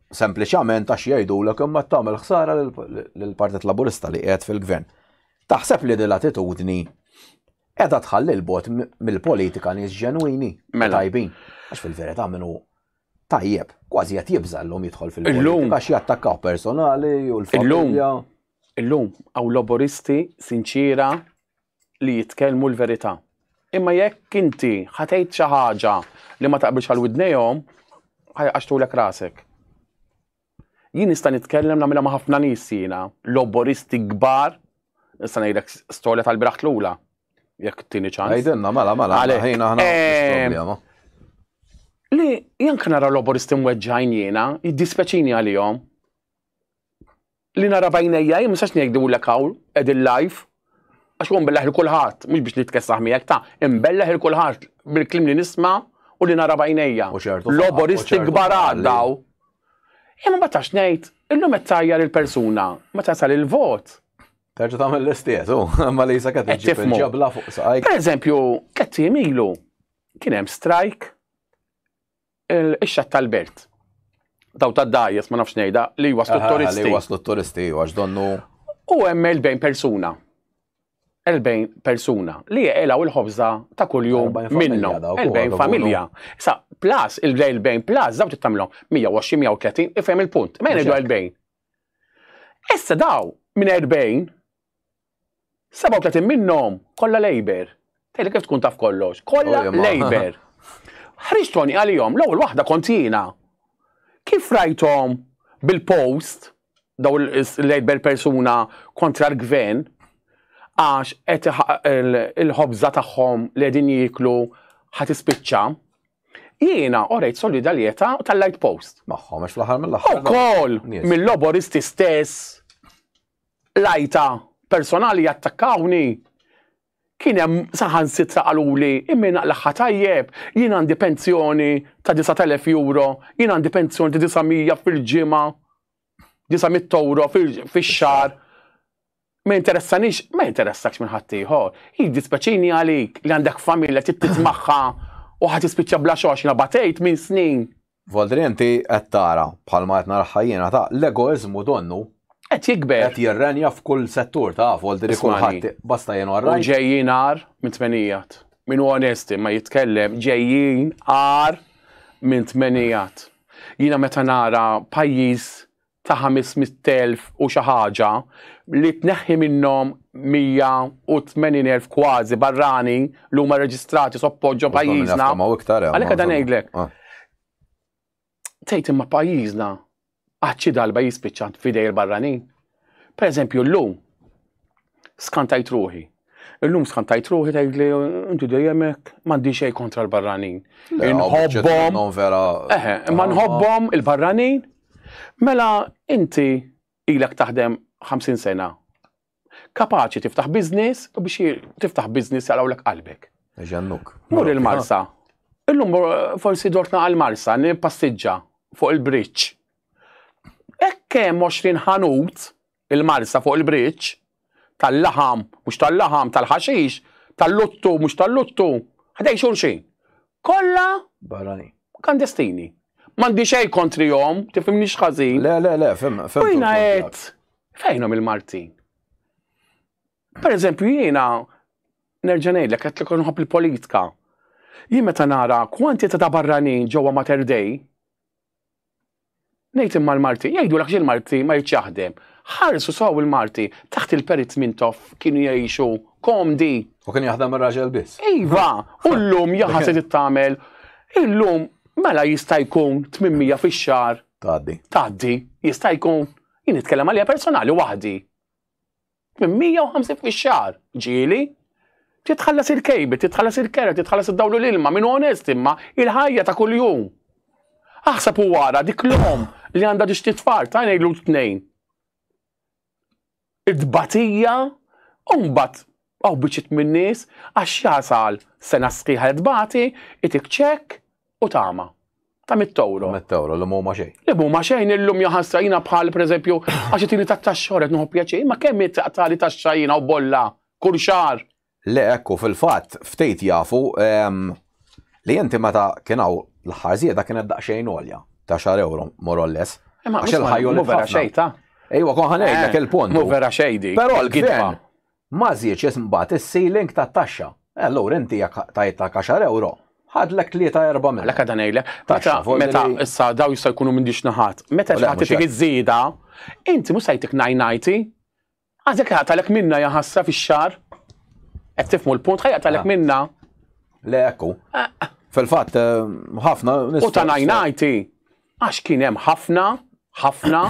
Speaker 1: sempliċament għax jgħidulek imma qed tagħmel ħsara lill-Partit Laburista li qiegħed fil-Gvern. Taħseb li din l-attitudni qiegħda tħalli l-bot mill-politika nies ġenwini mela. tajbin. Għax fil-verità minnu tajjeb, kważi qed jibża' llum jidħol fil-politika għax jattakkaw personali u l-familja. Illum
Speaker 2: hawn laboristi sinċira li jitkellmu l-verità. Imma jekk inti ħatejt xi ħaġa li ma taqbilx għal widnejhom, ħajqaxtulek rasek. Jien nista' nitkellem nagħmilha ma' ħafna nies jiena, loboristi kbar, nista' ngħidlek storja tal-biraħt lula. Jekk tieni ċans. Għajdenna, mela, mela, ħajna
Speaker 1: ħana problema.
Speaker 2: Li jank nara loboristi mweġġajn jiena, jiddispeċini għalihom. Li nara b'għajnejja jien ma nistax ngħidulek hawn qegħdin live għax hu nbellagħ 'il kulħadd, mhux biex nitkessaħ miegħek, ta' inbellagħ 'il kulħadd bil-kliem li nisma' u li nara b'għajnejja. Loboristi kbar għad hawn. Jien ma nbatax ngħid, illum qed tgħajjar il-persuna, meta jasal il-vot. Terġa' tagħmel
Speaker 1: l-istess, hu, imma li sakemm tiġi bil-ġabla fuq saqajk. Pereżempju, tliet
Speaker 2: ijiem ilu kien hemm strajk Ix-xatt tal-belt. Daw ta' dajes, ma nafx nejda, li waslu t-turisti. Li waslu t-turisti, għax
Speaker 1: donnu. U hemm
Speaker 2: il-bejn persuna. Il-bejn persuna li jgħelaw il-ħobza ta' kuljum minnu. Il-bejn familja. Sa, plus, il-bejn plus, daw tittamlom 120-130, ifhem il-punt. Ma jgħidu il-bejn. Issa daw, minn 40, 37 minnhom kollha Labour. Tgħidli kif tkun taf kollox. Kollha Labour. Ħriġtoni għalihom l-ewwel waħda kont jiena. Kif rajthom bil-post daw il-Labour persuna kontra l-gvern għax qed il-ħobża tagħhom li qegħdin jieklu ħadd ispiċċa. Jiena orejt solidarjetà tal-Light Post. Magħhom għax fl-aħħar mill-aħħar.
Speaker 1: Ukoll
Speaker 2: mill-loboristi stess L-għajta personali jattakkawni, kien hemm saħansitra qaluli imma jien aqlagħha tajjeb, jien għandi pensjoni ta' disgħat elef euro, jien għandi pensjoni ta' disa' mija fil-ġimgħa, disa' mitt ewro fix-xahar, ma jinteressanix, ma jinteressakx minn ħaddieħor. Jiddispjaċini għalik li għandek familja trid titmagħha u ħa tispiċċa bla xogħol għax nabatejt minn snin. Valdri inti
Speaker 1: qed tara, bħalma qed naraha jiena, ta' l-egoiżmu donnu. Qed jikber. Qed
Speaker 2: jirrenja f'kull
Speaker 1: settur ta' Valdri kulħadd basta jien all right. U ġejjin agħar
Speaker 2: minn tmenijat. Min hu onest imma jitkellem ġejjin agħar minn tmenijat. Jiena meta nara pajjiż ta' ħames mitt elf u xi ħaġa, li tneħħi minnhom mija u tmenin elf kważi barrani li huma rreġistrati soppost ġo pajjiżna. Għalhekk qed ngħidlek. Ah. Tgħid imma pajjiżna għad xi darba jispiċċa f'idej il-barranin. Pereżempju llum, skantajt ruħi. Illum skantajt ruħi tgħidli inti dejjem hekk m'għandi xejn kontra l-barranin. Inħobbhom. Eħe, ma nħobbhom il-barranin. Mela inti ilek taħdem 50 sena. Kapaċi tiftaħ biznis u biex tiftaħ biznis jalawlek qalbek. Ġannuk. Mur
Speaker 1: il-Marsa.
Speaker 2: Illum forsi dortna għal-Marsa, nipassiġġa fuq il-bridge. Ekke 20 ħanut Il-mars ta' fuq il-bridge, tal-laħam, mhux tal-laħam, tal-ħaxix, tal-luttu, mhux tal-luttu, ħdejn xulxin. Kollha. Barranin.
Speaker 1: Klandestini.
Speaker 2: M'għandi xejn kontrihom, tifhimnix ħażin. Le, le, le, fim, fim.
Speaker 1: Jiena qed
Speaker 2: fejnhom il-Maltin. Per eżempju, jiena nerġa' ngħidlek qed li nħobb il-politika. Jien meta nara kwantità ta' barranin ġewwa Mater Dei, Ngħid imma l-Maltin, jgħidulek għax il-Malti ma jridx jaħdem. Ħarsu sew il-Malti, taħt il-Perit Mintoff kienu jgħixu komdi. U kien jaħdem
Speaker 1: ir-raġel biss. Iva, u
Speaker 2: llum jaħa se tittamel. Illum mela jista' jkun 800 fix-xahar. Tgħaddi. Tgħaddi, jista' jkun. Jien nitkellem għalija personali waħdi. minn 150 fix-xahar, ġieli. Titħallas il-kejbi, titħallas il-kera, titħallas id-dawlu l-ilma, min onest imma, il-ħajja ta' kuljum. Aħseb u wara dik l-om li għandha tixti tfal ta' ngħidu tnejn. Id-batija, u mbagħad għaw biċċiet min-nies għax jasal sena sħiħa tbati, itik ċekk, u tama ta' mit-toro. Mit-toro, li mumma xejn.
Speaker 1: Li mumma xejn illum
Speaker 2: jaħasra jina bħal, per eżempju, għax tini ta' taxxor qed nħobb pjaċir, ma kemm taqtali taxxa jina u bolla, kull xar. Le ekku
Speaker 1: fil-fatt ftejt jafu ehm, li inti meta kien hawn l-aħħar żieda kienet daqsxejn għolja ta' xar euro more or less. Għax il-ħajju
Speaker 2: vera xejta. Ejwa kon ħanejlek
Speaker 1: eh, il-punt. Mu vera xejdi. Però
Speaker 2: l-gidba.
Speaker 1: Ma żiedx imbagħad is-ceiling tat-taxxa. E allura inti jekk tajthak għaxar ewro, ħadlek tlieta erbgħa minnhom. Għalhekk qiegħda ngħidlek, taxxa
Speaker 2: fuq il-. Meta issa dawn jistgħu jkunu minn dix naħat. Meta xi ħadd itik iż-żieda, inti mhux se jtik nine ninety. Għax jekk jaqtagħlek minnha ja ħasra fix-xahar. Qed tifhmu l-punt? Ħa jaqtagħlek minnha. Le hekk
Speaker 1: hu. Fil-fatt ħafna. U ta' nine
Speaker 2: ninety. Għax kien hemm ħafna, ħafna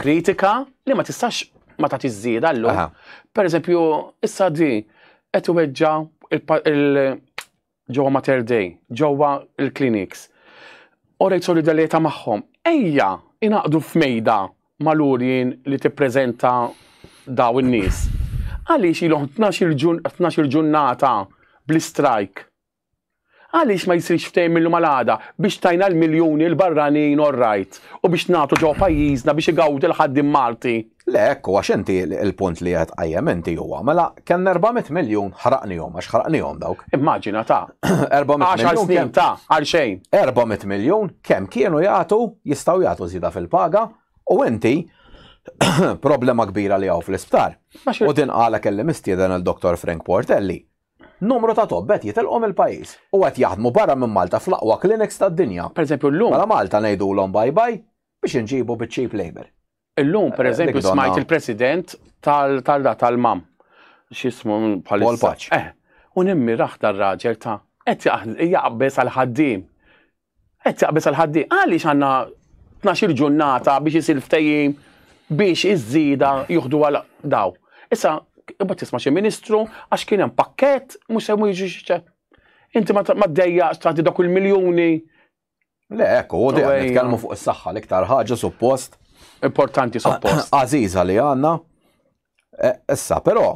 Speaker 2: kritika li ma tistax ma tagħti żieda llum. Per eżempju, issa di qed iweġġa il-ġewwa Mater Dei, ġewwa il-clinics. U rejt solidarieta magħhom. Ejja, inaqdu f'mejda mal-urjien li tippreżenta daw in-nies. Għaliex ilhom 12 ġurnata bl-strajk Għaliex ma jsirx ftehim mil-lum għal għada biex tajna l-miljuni l-barranin all right u biex nagħtu ġewwa pajjiżna biex igawdi l-ħaddiem Malti? Le hekk hu għax
Speaker 1: inti l-punt li qed tqajjem inti huwa mela kellna 400 miljun ħraqnihom għax ħraqnihom dawk. Immaġina ta'. 400 miljun.
Speaker 2: Għaxar
Speaker 1: snin ta'
Speaker 2: għal xejn. 400 miljun
Speaker 1: kemm kienu jagħtu jistgħu jagħtu żieda fil-paga u inti problema kbira li hawn fl-isptar. U din qala kelli mistieden għal Dr. Frank Portelli Numru ta' tobba qed jitilqu mill-pajjiż u qed jaħdmu barra minn Malta fl-aqwa clinics tad-dinja. Pereżempju llum. Mela Malta
Speaker 2: ngħidulhom
Speaker 1: bye bye biex inġibu biċ-cheap labour. Illum pereżempju
Speaker 2: smajt il-President tal-MAM, x'ismu bħalissa? Paul Paċ. Eh. U nimmirah dar-raġel ta' qed jaqbeż għall-ħaddiem. Qed jaqbeż għal ħaddiem. Għaliex għandna tnax-il ġurnata biex isir ftehim biex iż-żieda juħdu għal daw. Issa, imbagħad tisma' xi ministru għax kien hemm pakkett mhux se jiġu xi Inti ma ddejjaqx tagħti dawk il-miljuni. Le,
Speaker 1: ekku, u dejjem nitkellmu fuq is-saħħa l-iktar ħaġa suppost. Importanti
Speaker 2: suppost. Għażiża li għandna
Speaker 1: E, issa, però,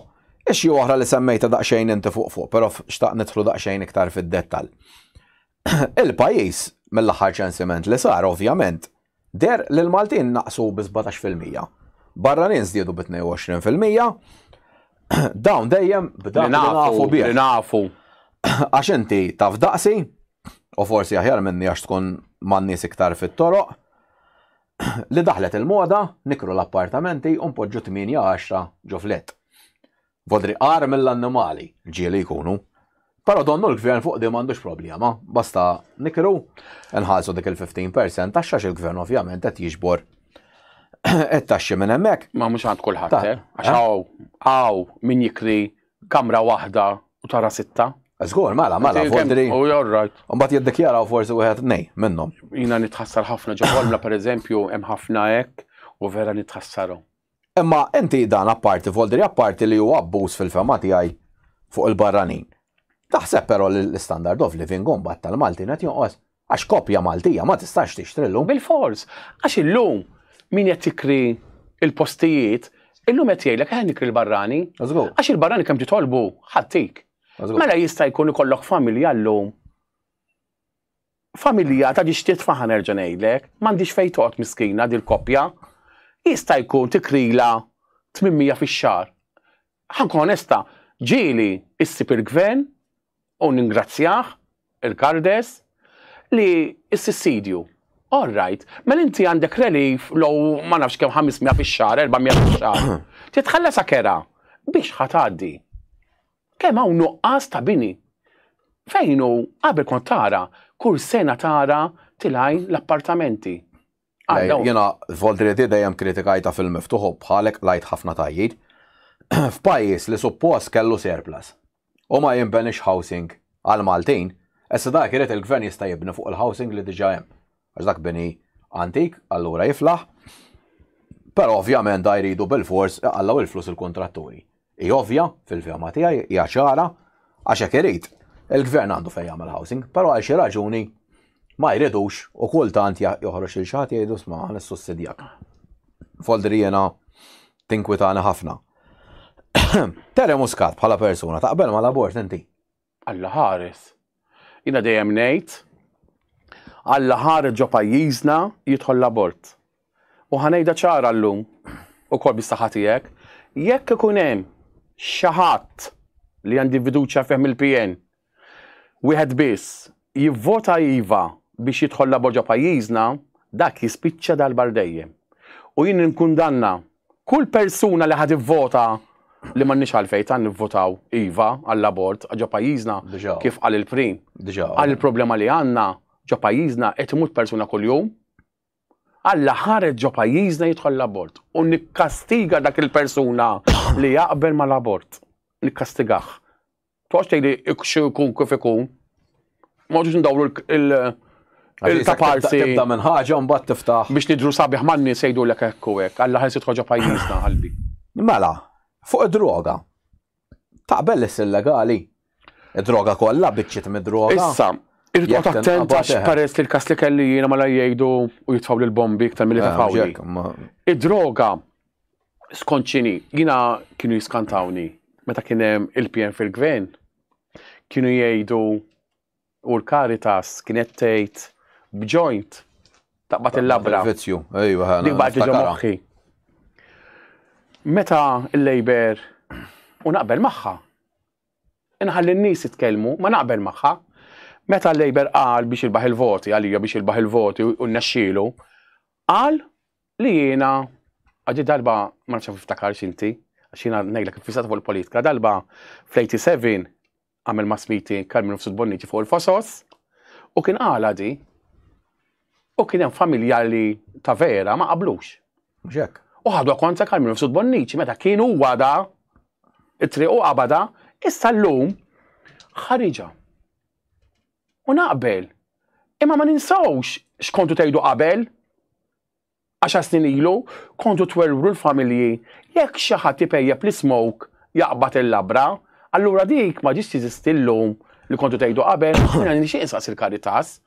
Speaker 1: ix oħra li semmejta daqsxejn inti fuq fuq, però xtaq nidħlu daqsxejn iktar fid-dettal. Il-pajjiż mill-aħħar ċensiment li sar, ovvjament, der li l-Maltin naqsu bi 17%. Barranin żdiedu bi 22%. Dawn dejjem b'dak li nafu bih. nafu.
Speaker 2: Għax
Speaker 1: inti taf daqsi, u forsi aħjar minni għax tkun man-nies iktar fit-toroq. li daħlet il-moda nikru l-appartamenti u npoġġu tmienja għaxra ġufliet. Vodri qar mill-annimali, ġieli jkunu. Però donnu l-gvern fuq di m'għandux problema, basta nikru nħallsu dik il-15% taxxa il-gvern ovvjament qed jiġbor it-taxxi minn hemmhekk. Ma mhux għand kulħadd, eh?
Speaker 2: għax hawn min jikri kamra waħda u tara sitta. Zgur, mela, mela,
Speaker 1: fondri. U oh, right. U
Speaker 2: bat jiddikjara u forsi
Speaker 1: wieħed nej minnhom. Jina nitħassar
Speaker 2: ħafna ġewwa per eżempju, hemm ħafna hekk u vera nitħassaru. Imma
Speaker 1: inti dan apparti fondri apparti li huwa abbuż fil-fema tiegħi fuq il-barranin. Taħseb però li l-standard of living gombat tal-Malti qed jonqos. Għax koppja Maltija ma tistax tixtri llum. Bilfors, għax
Speaker 2: illum min qed jikri l-postijiet, illum qed jgħidlek eħe nikri l-barrani. Żgur. Għax il-barrani kemm titolbu ħadtik. Żgur. Mela jista' jkun ikollok familja llum. Familja ta' ġixtiet faħa nerġa' ngħidlek, m'għandix fejn toqgħod miskina dil-koppja. Jista' jkun tikrila 800 fix-xahar. Ħankun onesta, ġieli issib il-gvern u ningrazzjah, il-Kardes, li s-sissidju. All right, mela inti għandek relief low ma nafx kemm 500 fix-xahar, 400 fix-xahar. Titħallasha kera biex ħa tgħaddi. Kemm hawn nuqqas ta' bini. Fejn hu qabel kont tara kull sena tara tilgħin l-appartamenti.
Speaker 1: Jena, Voltriti dejjem kritikajta fil-miftuħu bħalek lajt ħafna tajjid. F'pajis li suppost kellu surplus u ma jimbenix housing għal Maltin, essa dak irid il-gvern jista' jibni fuq il-housing li diġa hemm. Għax dak bini antik, allura jiflaħ. Però ovvjament da jridu bil-fors iqallaw il-flus il-kontratturi. Hi ovvja, fil-fehma tiegħi, hija ċara, għax hekk irid. Il-Gvern għandu fejn jagħmel housing, però għal xi raġuni ma jridux u kultant joħroġ lil xi ħadd jgħidu sma' ħa nissussidjak. Foldri jiena tinkwitani ħafna. Tere Muscat bħala persuna taqbel mal-abort inti? Alla ħares.
Speaker 2: Jiena dejjem ngħid, Alla ħares ġo pajjiżna jidħol l-abort. U ħa ngħidha ċara llum, ukoll bis-saħħa tiegħek, jekk ikun hemm xi ħadd li għandi fiduċja fih mill-PN, wieħed biss, jivvota iva biex jidħol l-abort ġo pajjiżna, dak jispiċċa darba għal dejjem. U jien ninkundanna Kull persuna li ħa tivvota li m'għandniex għalfejn tant nivvotaw iva għall-abort ġo pajjiżna kif qal il-Prim. Qal il-problema li għandna ġo pajjiżna qed imut persuna kuljum. Alla ħareġ ġo pajjiżna jidħol l-abort u nikkastiga dak il-persuna li jaqbel mal-abort. Nikkastigah. Toqgħodx tgħidi ikxu jkun kif ikun. Ma ġux ndawru il- Il-taparsi. Tibda minn ħaġa mbagħad
Speaker 1: tiftaħ. Biex nidru sabiħ manni
Speaker 2: sejdu l hekk u hekk, għalla ħelsi tħoġa pajjiżna qalbi. Mela,
Speaker 1: fuq id-droga. Taqbel li illegali? Id-droga kollha biċċiet mid-droga. Issa, irrid
Speaker 2: attent għax peress li l-kas li kelli jiena mala jgħidu u jitfaw l-bombi iktar mill-li eh, tafawli. Id-droga skont xini, jina kienu jiskantawni meta kien hemm il-PN fil-gvern, kienu jgħidu u l-Caritas kienet tgħid b'joint taqbad il-labra. Vizzju, ejwa ħana.
Speaker 1: Dik baqgħet ġo moħħi.
Speaker 2: Meta l-Labor u naqbel magħha. Inħalli n-nies jitkellmu, ma naqbel magħha. Meta l-Labor qal biex il-baħ il-voti għalija biex il-baħ il-voti u n-nexxielu, qal li jiena għaddi darba ma nafx niftakarx inti, għax jiena ngħidlek iffissat fuq il-politika, darba fl-87 għamel ma' smiti Carmine Fsud Bonnici fuq il-Fosos u kien għala di u kien hemm familja li ta' vera ma qablux. Ġek. U
Speaker 1: ħadu kontra
Speaker 2: Carmine Fsud Bonnici meta kien huwa da it-triq u qabada issa llum ħariġa. U naqbel. Imma ma ninsawx x'kontu tgħidu qabel Għaxar snin ilu kontu twerwru l-familji jekk xi ħadd ipejjep l-ismoke jaqbad il-labra, allura dik ma ġietx teżisti llum li kontu tgħidu qabel. Jiena nixtieq insaqsi l-Caritas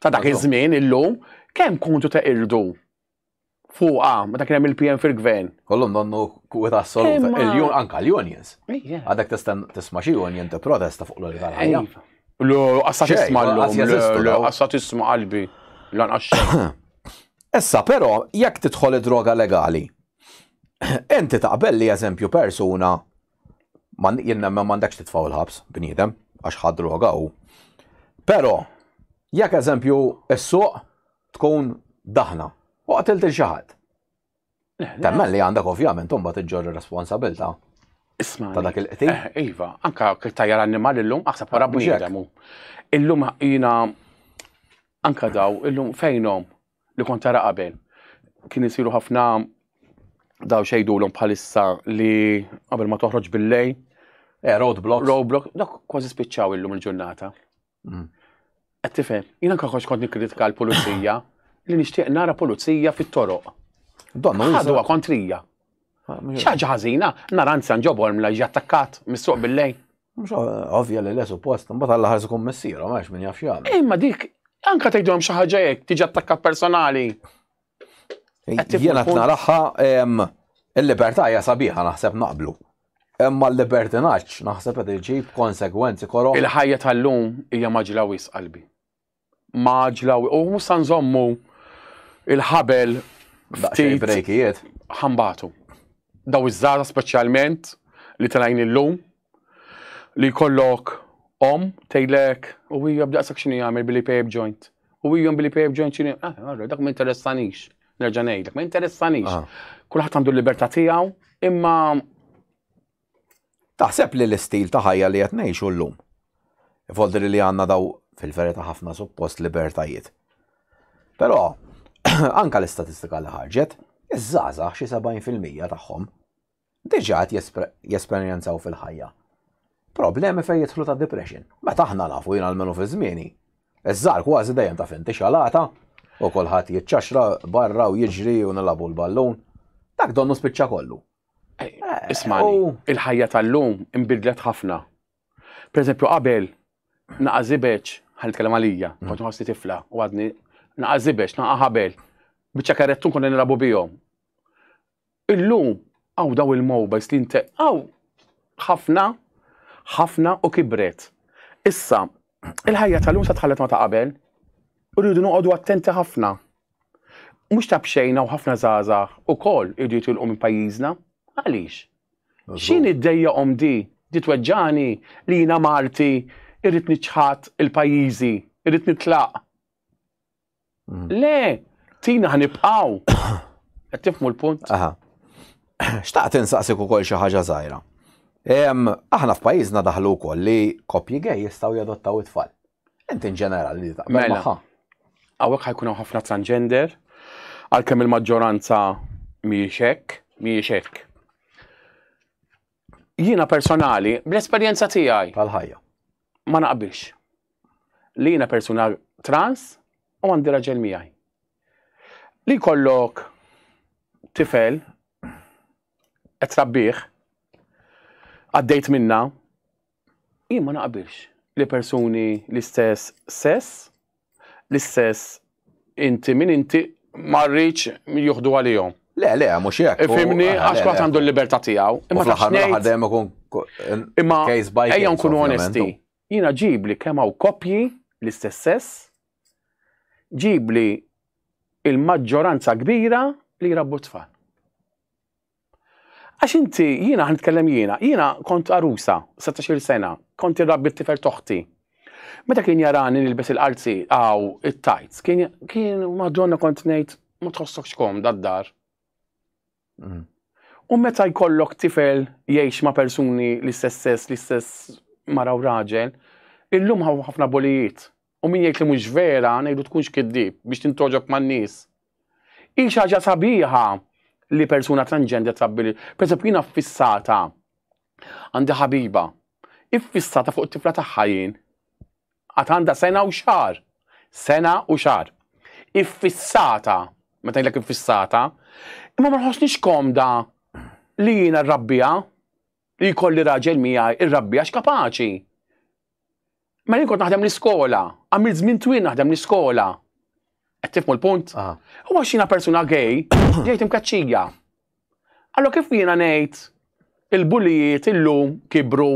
Speaker 2: ta' dak iż-żmien illum kemm kontu teqirdu fuqha meta kien hemm il-PN fil-Gvern. Kollhom donnu
Speaker 1: kwità assoluta, anke l-unions. Għadek tista' tisma' xi union tipprotesta fuq l-ħajja. Lu, għassa
Speaker 2: tisma l għassa tisma qalbi, lanqax.
Speaker 1: Issa, pero, jekk tidħol id-droga legali, enti taqbel li eżempju persuna, man jenna ma mandekx titfaw il-ħabs, bnidem, għax ħad droga u. Pero, jekk eżempju s-suq tkun daħna, u għatilti xaħat. Eh, Temmen li għandek ovvjament umbat iġġorri responsabilta. Isma. Ta'
Speaker 2: dak il-qti. Eh,
Speaker 1: iva, anka
Speaker 2: tajja l-annimal illum, aħseb wara bniedem. Illum jina anka daw, illum fejnom li kont tara qabel. Kien isiru ħafna daw xejdu l bħalissa li qabel ma toħroġ bil-lej. Eh, roadblock.
Speaker 1: Roadblock, dak
Speaker 2: kważi spiċċaw illum il-ġurnata. Mm. Qed tifhem, jiena kaħħoġ kont nikkritika l-pulizija li nixtieq nara pulizija fit-toroq. Donna ħadu kontrija. Ah, Xaġa ħażina, nara anzjan ġobor mla ġattakkat mis-suq bil-lej. Mux
Speaker 1: ovvja li l-esu post, mbagħad alla ħarsu kum messieru, ma min jaf jagħmel. Imma dik,
Speaker 2: anka tgħidhom xi ħaġa hekk, tiġi attakkat personali.
Speaker 1: Jiena t-naraħħa il-libertà hija sabiħa naħseb naqblu. Imma l-libertinaċ naħseb qed iġib konsegwenzi korok. Il-ħajja tal-lum
Speaker 2: hija maġla wis qalbi. Maġla u mhux sa nżommu il-ħabel ftit
Speaker 1: brejkijiet ħambatu.
Speaker 2: Daw iż-żgħażagħ speċjalment li tlajn illum li jkollok om tgħidlek u hija b'daqshekk x'inhi jagħmel billi pejb joint. U hija billi pejb joint x'inhi ah, allora dak ma interessanix. Nerġa' ngħidlek, ma interessanix. Ah. Kulħadd għandu l-libertà tiegħu, imma
Speaker 1: taħseb li l-istil ta' ħajja li qed ngħixu llum. Ifoldri li għandna daw fil-verita ħafna suppost libertajiet. Però anka l-istatistika li ħarġet, iż-żgħażagħ xi 70% tagħhom diġà qed jesperjenzaw fil-ħajja problemi fejn jidħlu ta' depression. Meta aħna nafu jien almenu fi żmieni, iż-żgħar kważi dejjem ta' finti xalata u kulħadd jiċċaxra barra u jiġri u nilabu l-ballun. Dak donnu spiċċa kollu. Eh, ismani,
Speaker 2: il-ħajja tal-lum imbidlet ħafna. Per eżempju, qabel naqażibeċ, ħan nitkellem għalija, mm. kont nħossni tifla u għadni naqażibeċ, naqaħabel, biċċa karrettun konna nilabu bihom. Illum hawn dawn il-mowbajls li nte hawn ħafna ħafna u kibret. Issa, il-ħajja tal-lum sa tħallet ma ta' qabel. U rridu noqogħdu attenti ħafna. Mhux ta' b'xejn hawn ħafna żgħażagħ ukoll iridu jitilqu minn pajjiżna. Għaliex? X'inhi ddejjaqhom di? Di tweġġagħni li jiena Malti irrid niċħad il-pajjiżi, irrid nitlaq. Le, tina ħanibqaw. Qed tifmu l-punt? Aha.
Speaker 1: Xtaqt insaqsik ukoll xi ħaġa żgħira. Aħna f'pajjiżna daħlu wkoll li koppji gej jistgħu jadottaw it-tfal. Inti ġenerali li taqbel mela. magħha. Hawnhekk ħajkun
Speaker 2: hawn ħafna transgender, għalkemm il-maġġoranza mhijiex hekk, mhijiex hekk. Jiena personali, bl-esperjenza tiegħi. Tal-ħajja.
Speaker 1: ma naqbilx
Speaker 2: li jiena persuna trans u għandi raġel miegħi. Li kollok tifel qed trabbih għaddejt minna jien ma naqbilx li persuni l-istess sess l-istess inti min inti ma rridx juħdu għalihom. Le, le, mhux hekk.
Speaker 1: Ifhimni eh, għax kulħadd għandu
Speaker 2: l-libertà tiegħu. Imma ta' xnejn.
Speaker 1: Imma
Speaker 2: ejja nkunu onesti. Jiena ġibli kemm hawn koppji l-istess sess, ġibli il-maġġoranza kbira li jrabbu tfal. Għax inti, jiena ħa nitkellem jiena, jiena kont għarusa, setax-il sena, kont irrabbi t-tifel t'oħti. Meta kien jarani nilbes il-qalzi għaw it-tajts, kien, kien, madonna kont ngħid, ma tħossokx kom dad-dar. Mm. U meta jkollok tifel jgħix ma' persuni l-istess sess, l-istess mara u raġel, illum ħafna bolijiet U min jgħid li mhux vera, ngħidu tkunx kiddib biex tintgħoġob man-nies. Hi xi ħaġa sabiħa li persuna transgender trabbi li. Pereżempju jiena ffissata għandi ħabiba. Iffissata fuq it-tifla tagħha jien. Għad għandha sena u xar. Sena u xar. Iffissata, meta jgħidlek iffissata, imma ma nħossniex komda li jiena rrabbija li jkolli raġel miegħi irrabbija x'kapaċi. Ma jien kont naħdem l-iskola, għamilt żmien twil naħdem l-iskola. Qed tifmu l-punt? Ah. U għax jiena persuna gay, ġejt imkaċċija. Allora kif jiena ngħid il-bulijiet illum kibru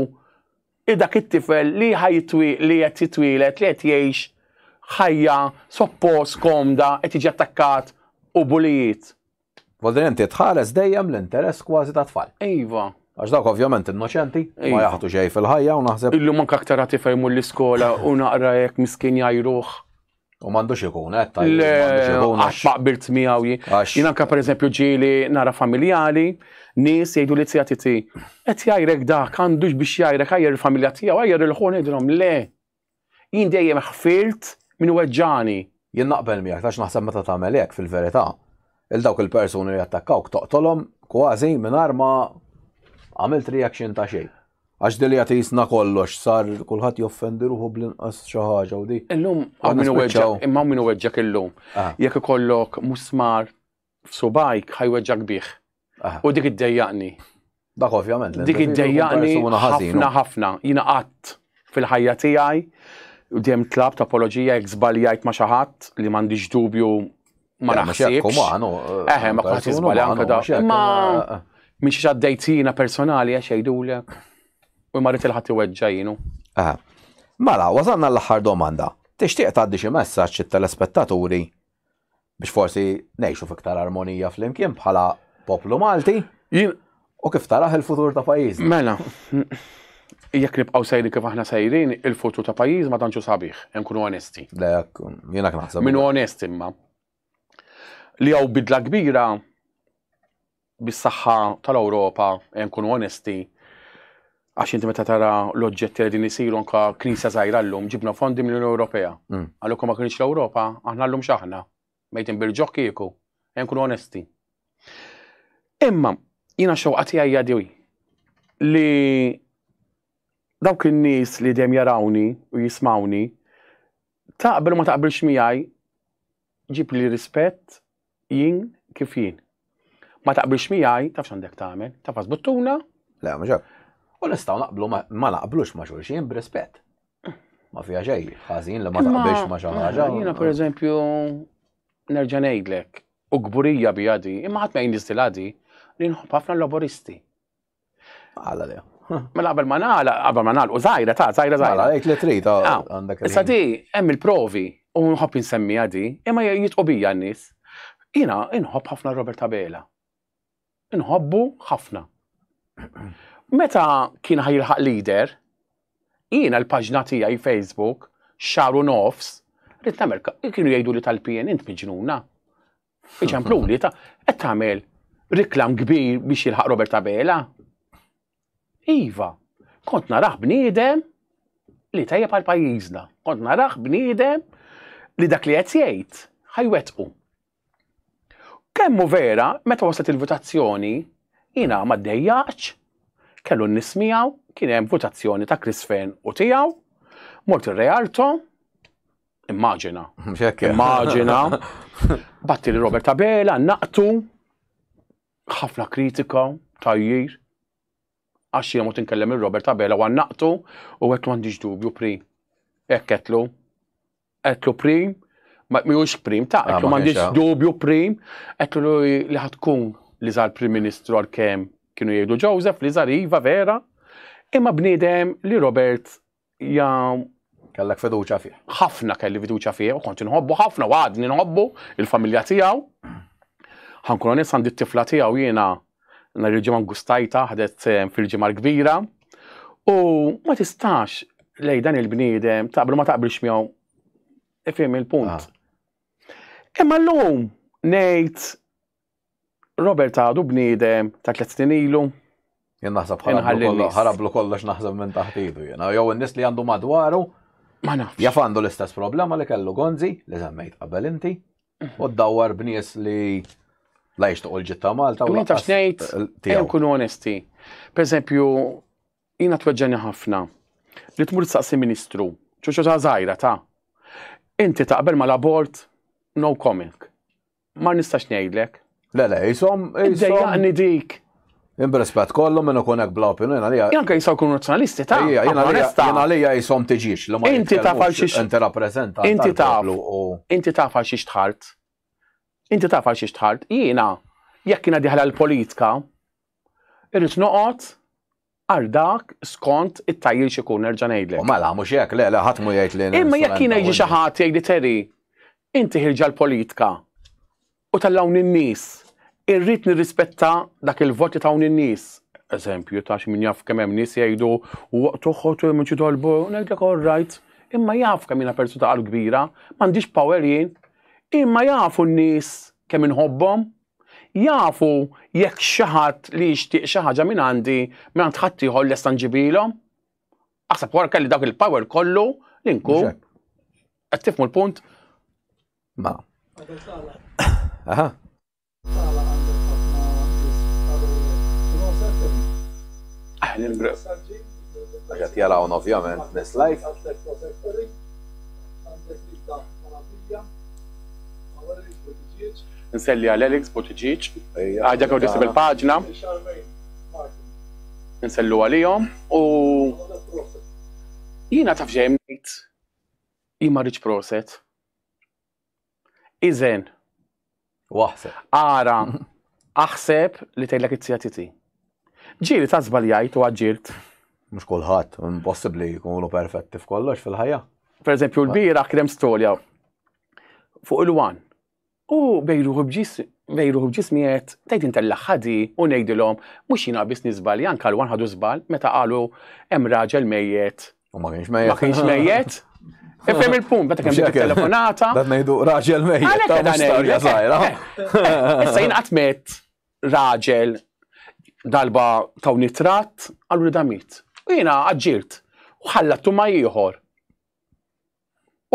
Speaker 2: dak it-tifel li ħajtwi li qed jitwielet li qed jgħix ħajja soppost komda qed jiġi attakkat u bulijiet. Volta li inti
Speaker 1: tħares dejjem l-interess kważi ta' tfal. Iva. Għax dawk
Speaker 2: ovvjament
Speaker 1: innoċenti, ma iva. jaħtu xejn fil-ħajja u naħseb. Illu man kaktar għati fejmu
Speaker 2: l-iskola u naqra jek miskin jajruħ. U mandux
Speaker 1: ikun, eh, ta' għax ma
Speaker 2: qbilt miegħu jien. Jien anka pereżempju ġieli nara familjali, nies jgħidu li tija titi. Qed jajrek dak, għandux biex jajrek għajr il-familja tiegħu, għajr il-ħun idrom le. Jien dejjem ħfirt min weġġagħni. Jien naqbel miegħek
Speaker 1: għax naħseb meta tagħmel hekk fil-verità, 'il dawk il-persuni li jattakkawk toqtolhom kważi mingħajr ma għamilt reaction ta' xejn. Għax din hija tqisna kollox sar kulħadd joffendi ruħu bl-inqas xi ħaġa u di. Illum hawn min iweġġgħu,
Speaker 2: imma hawn min iweġġgħek illum. Jekk ikollok musmar f'subgħajk ħa jweġġak bih. Ah. U dik iddejjaqni. Dak ovvjament.
Speaker 1: Dik iddejjaqni
Speaker 2: ħafna ħafna. Jiena qatt fil-ħajja tiegħi u dejjem tlab ta' apoloġija jekk żbaljajt ma' xi ħadd li m'għandix dubju ma naħsibx. Eh, Eħe, ma kwaħt iżbalja anke da. Ma eh, eh. minn xi għaddejt jiena personali għax jgħidulek u marrit il-ħadd iweġġa jienu.
Speaker 1: Mela, wasanna l-aħħar domanda. Tixtieq tgħaddi xi messaġġ it-telespettaturi biex forsi ngħixu fiktar armonija flimkien bħala poplu Malti u kif taraħ il-futur ta' pajjiżna. Mela,
Speaker 2: jekk nibqgħu sejri kif aħna sejrin, il-futur ta' pajjiż ma tantxu sabiħ, hemm kunu onesti. Lek, jiena
Speaker 1: naħseb. Minu onesti imma.
Speaker 2: Li hawn bidla kbira bis-saħħa tal-Ewropa ejja nkunu onesti għax inti meta tara l-oġġetti li din isiru anka knisja żgħira llum ġibna fondi mill-Unjoni Ewropea. Mm. Għalhekk ma kienx l-Ewropa, aħna llum x'aħna. Mejtin bil-ġoħ kieku, ejja nkunu onesti. Imma jiena xewqa tiegħi jadwi li dawk in-nies li dejjem jarawni u jismawni taqbel u ma taqbilx miegħi Ġib li rispett jien kif jien. Ma taqbilx miegħi, tafx għandek tagħmel, tafas buttuna. Le, ma ġab.
Speaker 1: U nistgħu naqblu ma naqblux ma' xulxin b'rispett. Ma fija xejn, ħażin li ma taqbilx ma xi ħaġa. Jiena pereżempju
Speaker 2: nerġa' ngħidlek, u kburija bi għadi, imma ħadd ma jnistilha di, li nħobb ħafna l-laboristi.
Speaker 1: Għala le. Mela qabel ma nagħla,
Speaker 2: qabel ma nagħlqu żgħira ta' żgħira żgħira. Għala għid li trid ah, ah,
Speaker 1: għandek. Issa di hemm
Speaker 2: il-provi u nħobb insemmija di, imma jitqu bija n-nies. Jiena inħobb ħafna Robert Abela. Inħobbu ħafna. Meta kien ħajilħaq leader, jiena l-paġna tiegħi Facebook, xaru nofs, rrit namel, kienu jgħidu li tal-PN int miġnuna. Iċempluli, ta' qed tagħmel riklam kbir biex jilħaq Robert Abela. Iva, kont naraħ bniedem li tajja għal pajjiżna. Kont naraħ bniedem li dak li qed jgħid ħajwetqu. Kemmu vera, meta waslet il-votazzjoni, jina ma dejjaċ, kellu n-nismijaw, kien hemm votazzjoni ta' Chris Fern u tiegħu, mort ir-Realto, Immaġina. Immaġina. Batti li Robert Abela naqtu ħafna kritika tajjir. Għax jemot inkellem il-Robert Abela għan naqtu u għet mandiġ dubju prim. Ekketlu. Ekketlu prim. Ma miħux prim ta' ekketlu ah, mandiġ dubju prim. Ekketlu li ħatkun li zal prim ministru għal-kem kienu jgħidu Joseph li zal Iva vera. Imma bnidem li Robert ja
Speaker 1: Kellek fiduċa fih. Ħafna kelli fiduċa
Speaker 2: fih u kont inħobbu ħafna u għadni nħobbu il-familja tiegħu. Ħankun onest għandi t-tifla tiegħu jiena nhar il-ġimgħa ngustajta ħadet eh, fil-ġimgħa l-kbira u ma tistax lej dan il-bniedem taqbel ma taqbilx miegħu ifhem il-punt. Ah. Imma llum ngħid Robert għadu bniedem ta' tliet snin ilu. Jien naħseb
Speaker 1: ħarablu kollox naħseb minn taħt idu jiena. Jew in-nies li għandu madwaru. Ma nafx. Jaf
Speaker 2: għandu l-istess problema
Speaker 1: li kellu Gonzi li żemmejt qabel inti. Mhm. U ddawwar b'nies li la jixtuq il-ġit ta' Malta. Ma nafx ngħid,
Speaker 2: jew kunu onesti. Per eżempju, jiena tweġġani ħafna li tmur saqsi ministru, ċoċo ta' żgħira ta' inti taqbel mal-abort no comment. Ma nistax
Speaker 1: ngħidlek.
Speaker 2: Le, le, jisom. Dejjaqni dik.
Speaker 1: Imbrespet kollu minn ikun hekk bla opinjoni għalija. Janka jisaw kun nazzjonalisti
Speaker 2: ta' jien għalija
Speaker 1: jisom tiġix li ma Inti taf għal xiex inti
Speaker 2: rappreżenta. Inti
Speaker 1: taf
Speaker 2: inti taf għal xiex tħart. Inti taf għal xiex tħart. Jiena jekk jiena diħla l-politika irrid noqgħod għal dak skont it-tajjir x'ikun nerġa' ngħidlek. U mela mhux hekk,
Speaker 1: le,
Speaker 2: le
Speaker 1: ħadd mu jgħid li. Imma jekk jiena jiġi xi
Speaker 2: ħadd jgħidli Terry, inti ħirġa l-politika u tallawni n-nies, irrid nirrispetta dak il-vot li tawni n-nies. Eżempju ta' xi min jaf kemm hemm nies jgħidu u toħod minn xi tolbu, ngħidlek all right, imma jaf kemm jiena persuna ta' qalb kbira, m'għandix power jien, imma jafu n-nies kemm inħobbhom. Jafu jekk xi ħadd li jixtieq xi ħaġa minn għandi, minn għand ħadd ieħor lesta nġibilhom? Aħseb wara kelli dak il-power kollu li nkun. Qed tifmu l-punt? Ma.
Speaker 1: Aha. Għaxat jarawn ovvjament nis live.
Speaker 2: Nselli għal Alex Buttigieg, għajda kew tisib il-paġna. Nsellu għalihom u jiena taf xejn ngħid jien ma rridx proset. Iżen.
Speaker 1: Waħseb. Ara,
Speaker 2: aħseb li tgħidlek it-sija titi. Ġiri ta' żbaljajt u għaġġirt. Mhux kulħadd,
Speaker 1: impossibbli jkunu perfetti f'kollox fil-ħajja. Per eżempju, l-bira
Speaker 2: krem storja fuq il-wan U bejn ruħu b'ġismi qed tgħid intellaq ħadi u ngħidilhom mhux jiena biss niżbalja anke l-wan ħadu żball meta qalu hemm raġel mejjet. U ma kienx mejjet.
Speaker 1: Ma kienx mejjet.
Speaker 2: Ifhem il-punt, meta kemm telefonata. Dan ngħidu raġel
Speaker 1: mejjet. Dan storja żgħira. Issa
Speaker 2: jien qatt met raġel dalba taw nitrat għallu li damit. U jiena aġġirt u ħallattu ma ieħor.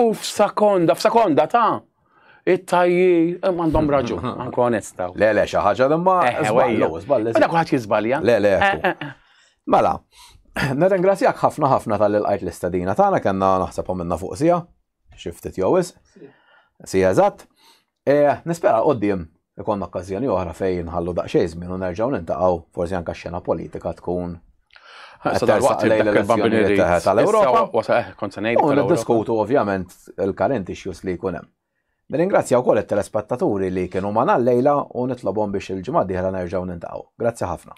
Speaker 2: U f'sakonda, f'sakonda ta' it-tajji, eh, għandhom raġun, anko onesta. Le, le, xi ħaġa li
Speaker 1: ma. Eh, eh, żballu, żballu. Mela kulħadd jiżbalja.
Speaker 2: Le, le.
Speaker 1: Mela, nirringrazzjak ħafna ħafna tal qajt l-istadina tagħna kellna naħseb minna fuq sija, xi ftit jew is. Sija eżatt. Eeh, nispera l-quddiem ikollna okkażjoni oħra fejn inħallu daqsxejn żmien u nerġgħu niltaqgħu, forsi anke x-xena politika tkun qed tersaq lejn l-elezzjonijiet tal-Ewropa. U niddiskutu ovvjament il-current issues li jkun hemm. Nirringrazzja wkoll it-telespettaturi li kienu magħna llejla u nitlobhom biex il-ġimgħa d-dieħla nerġgħu niltaqgħu. Grazzi ħafna.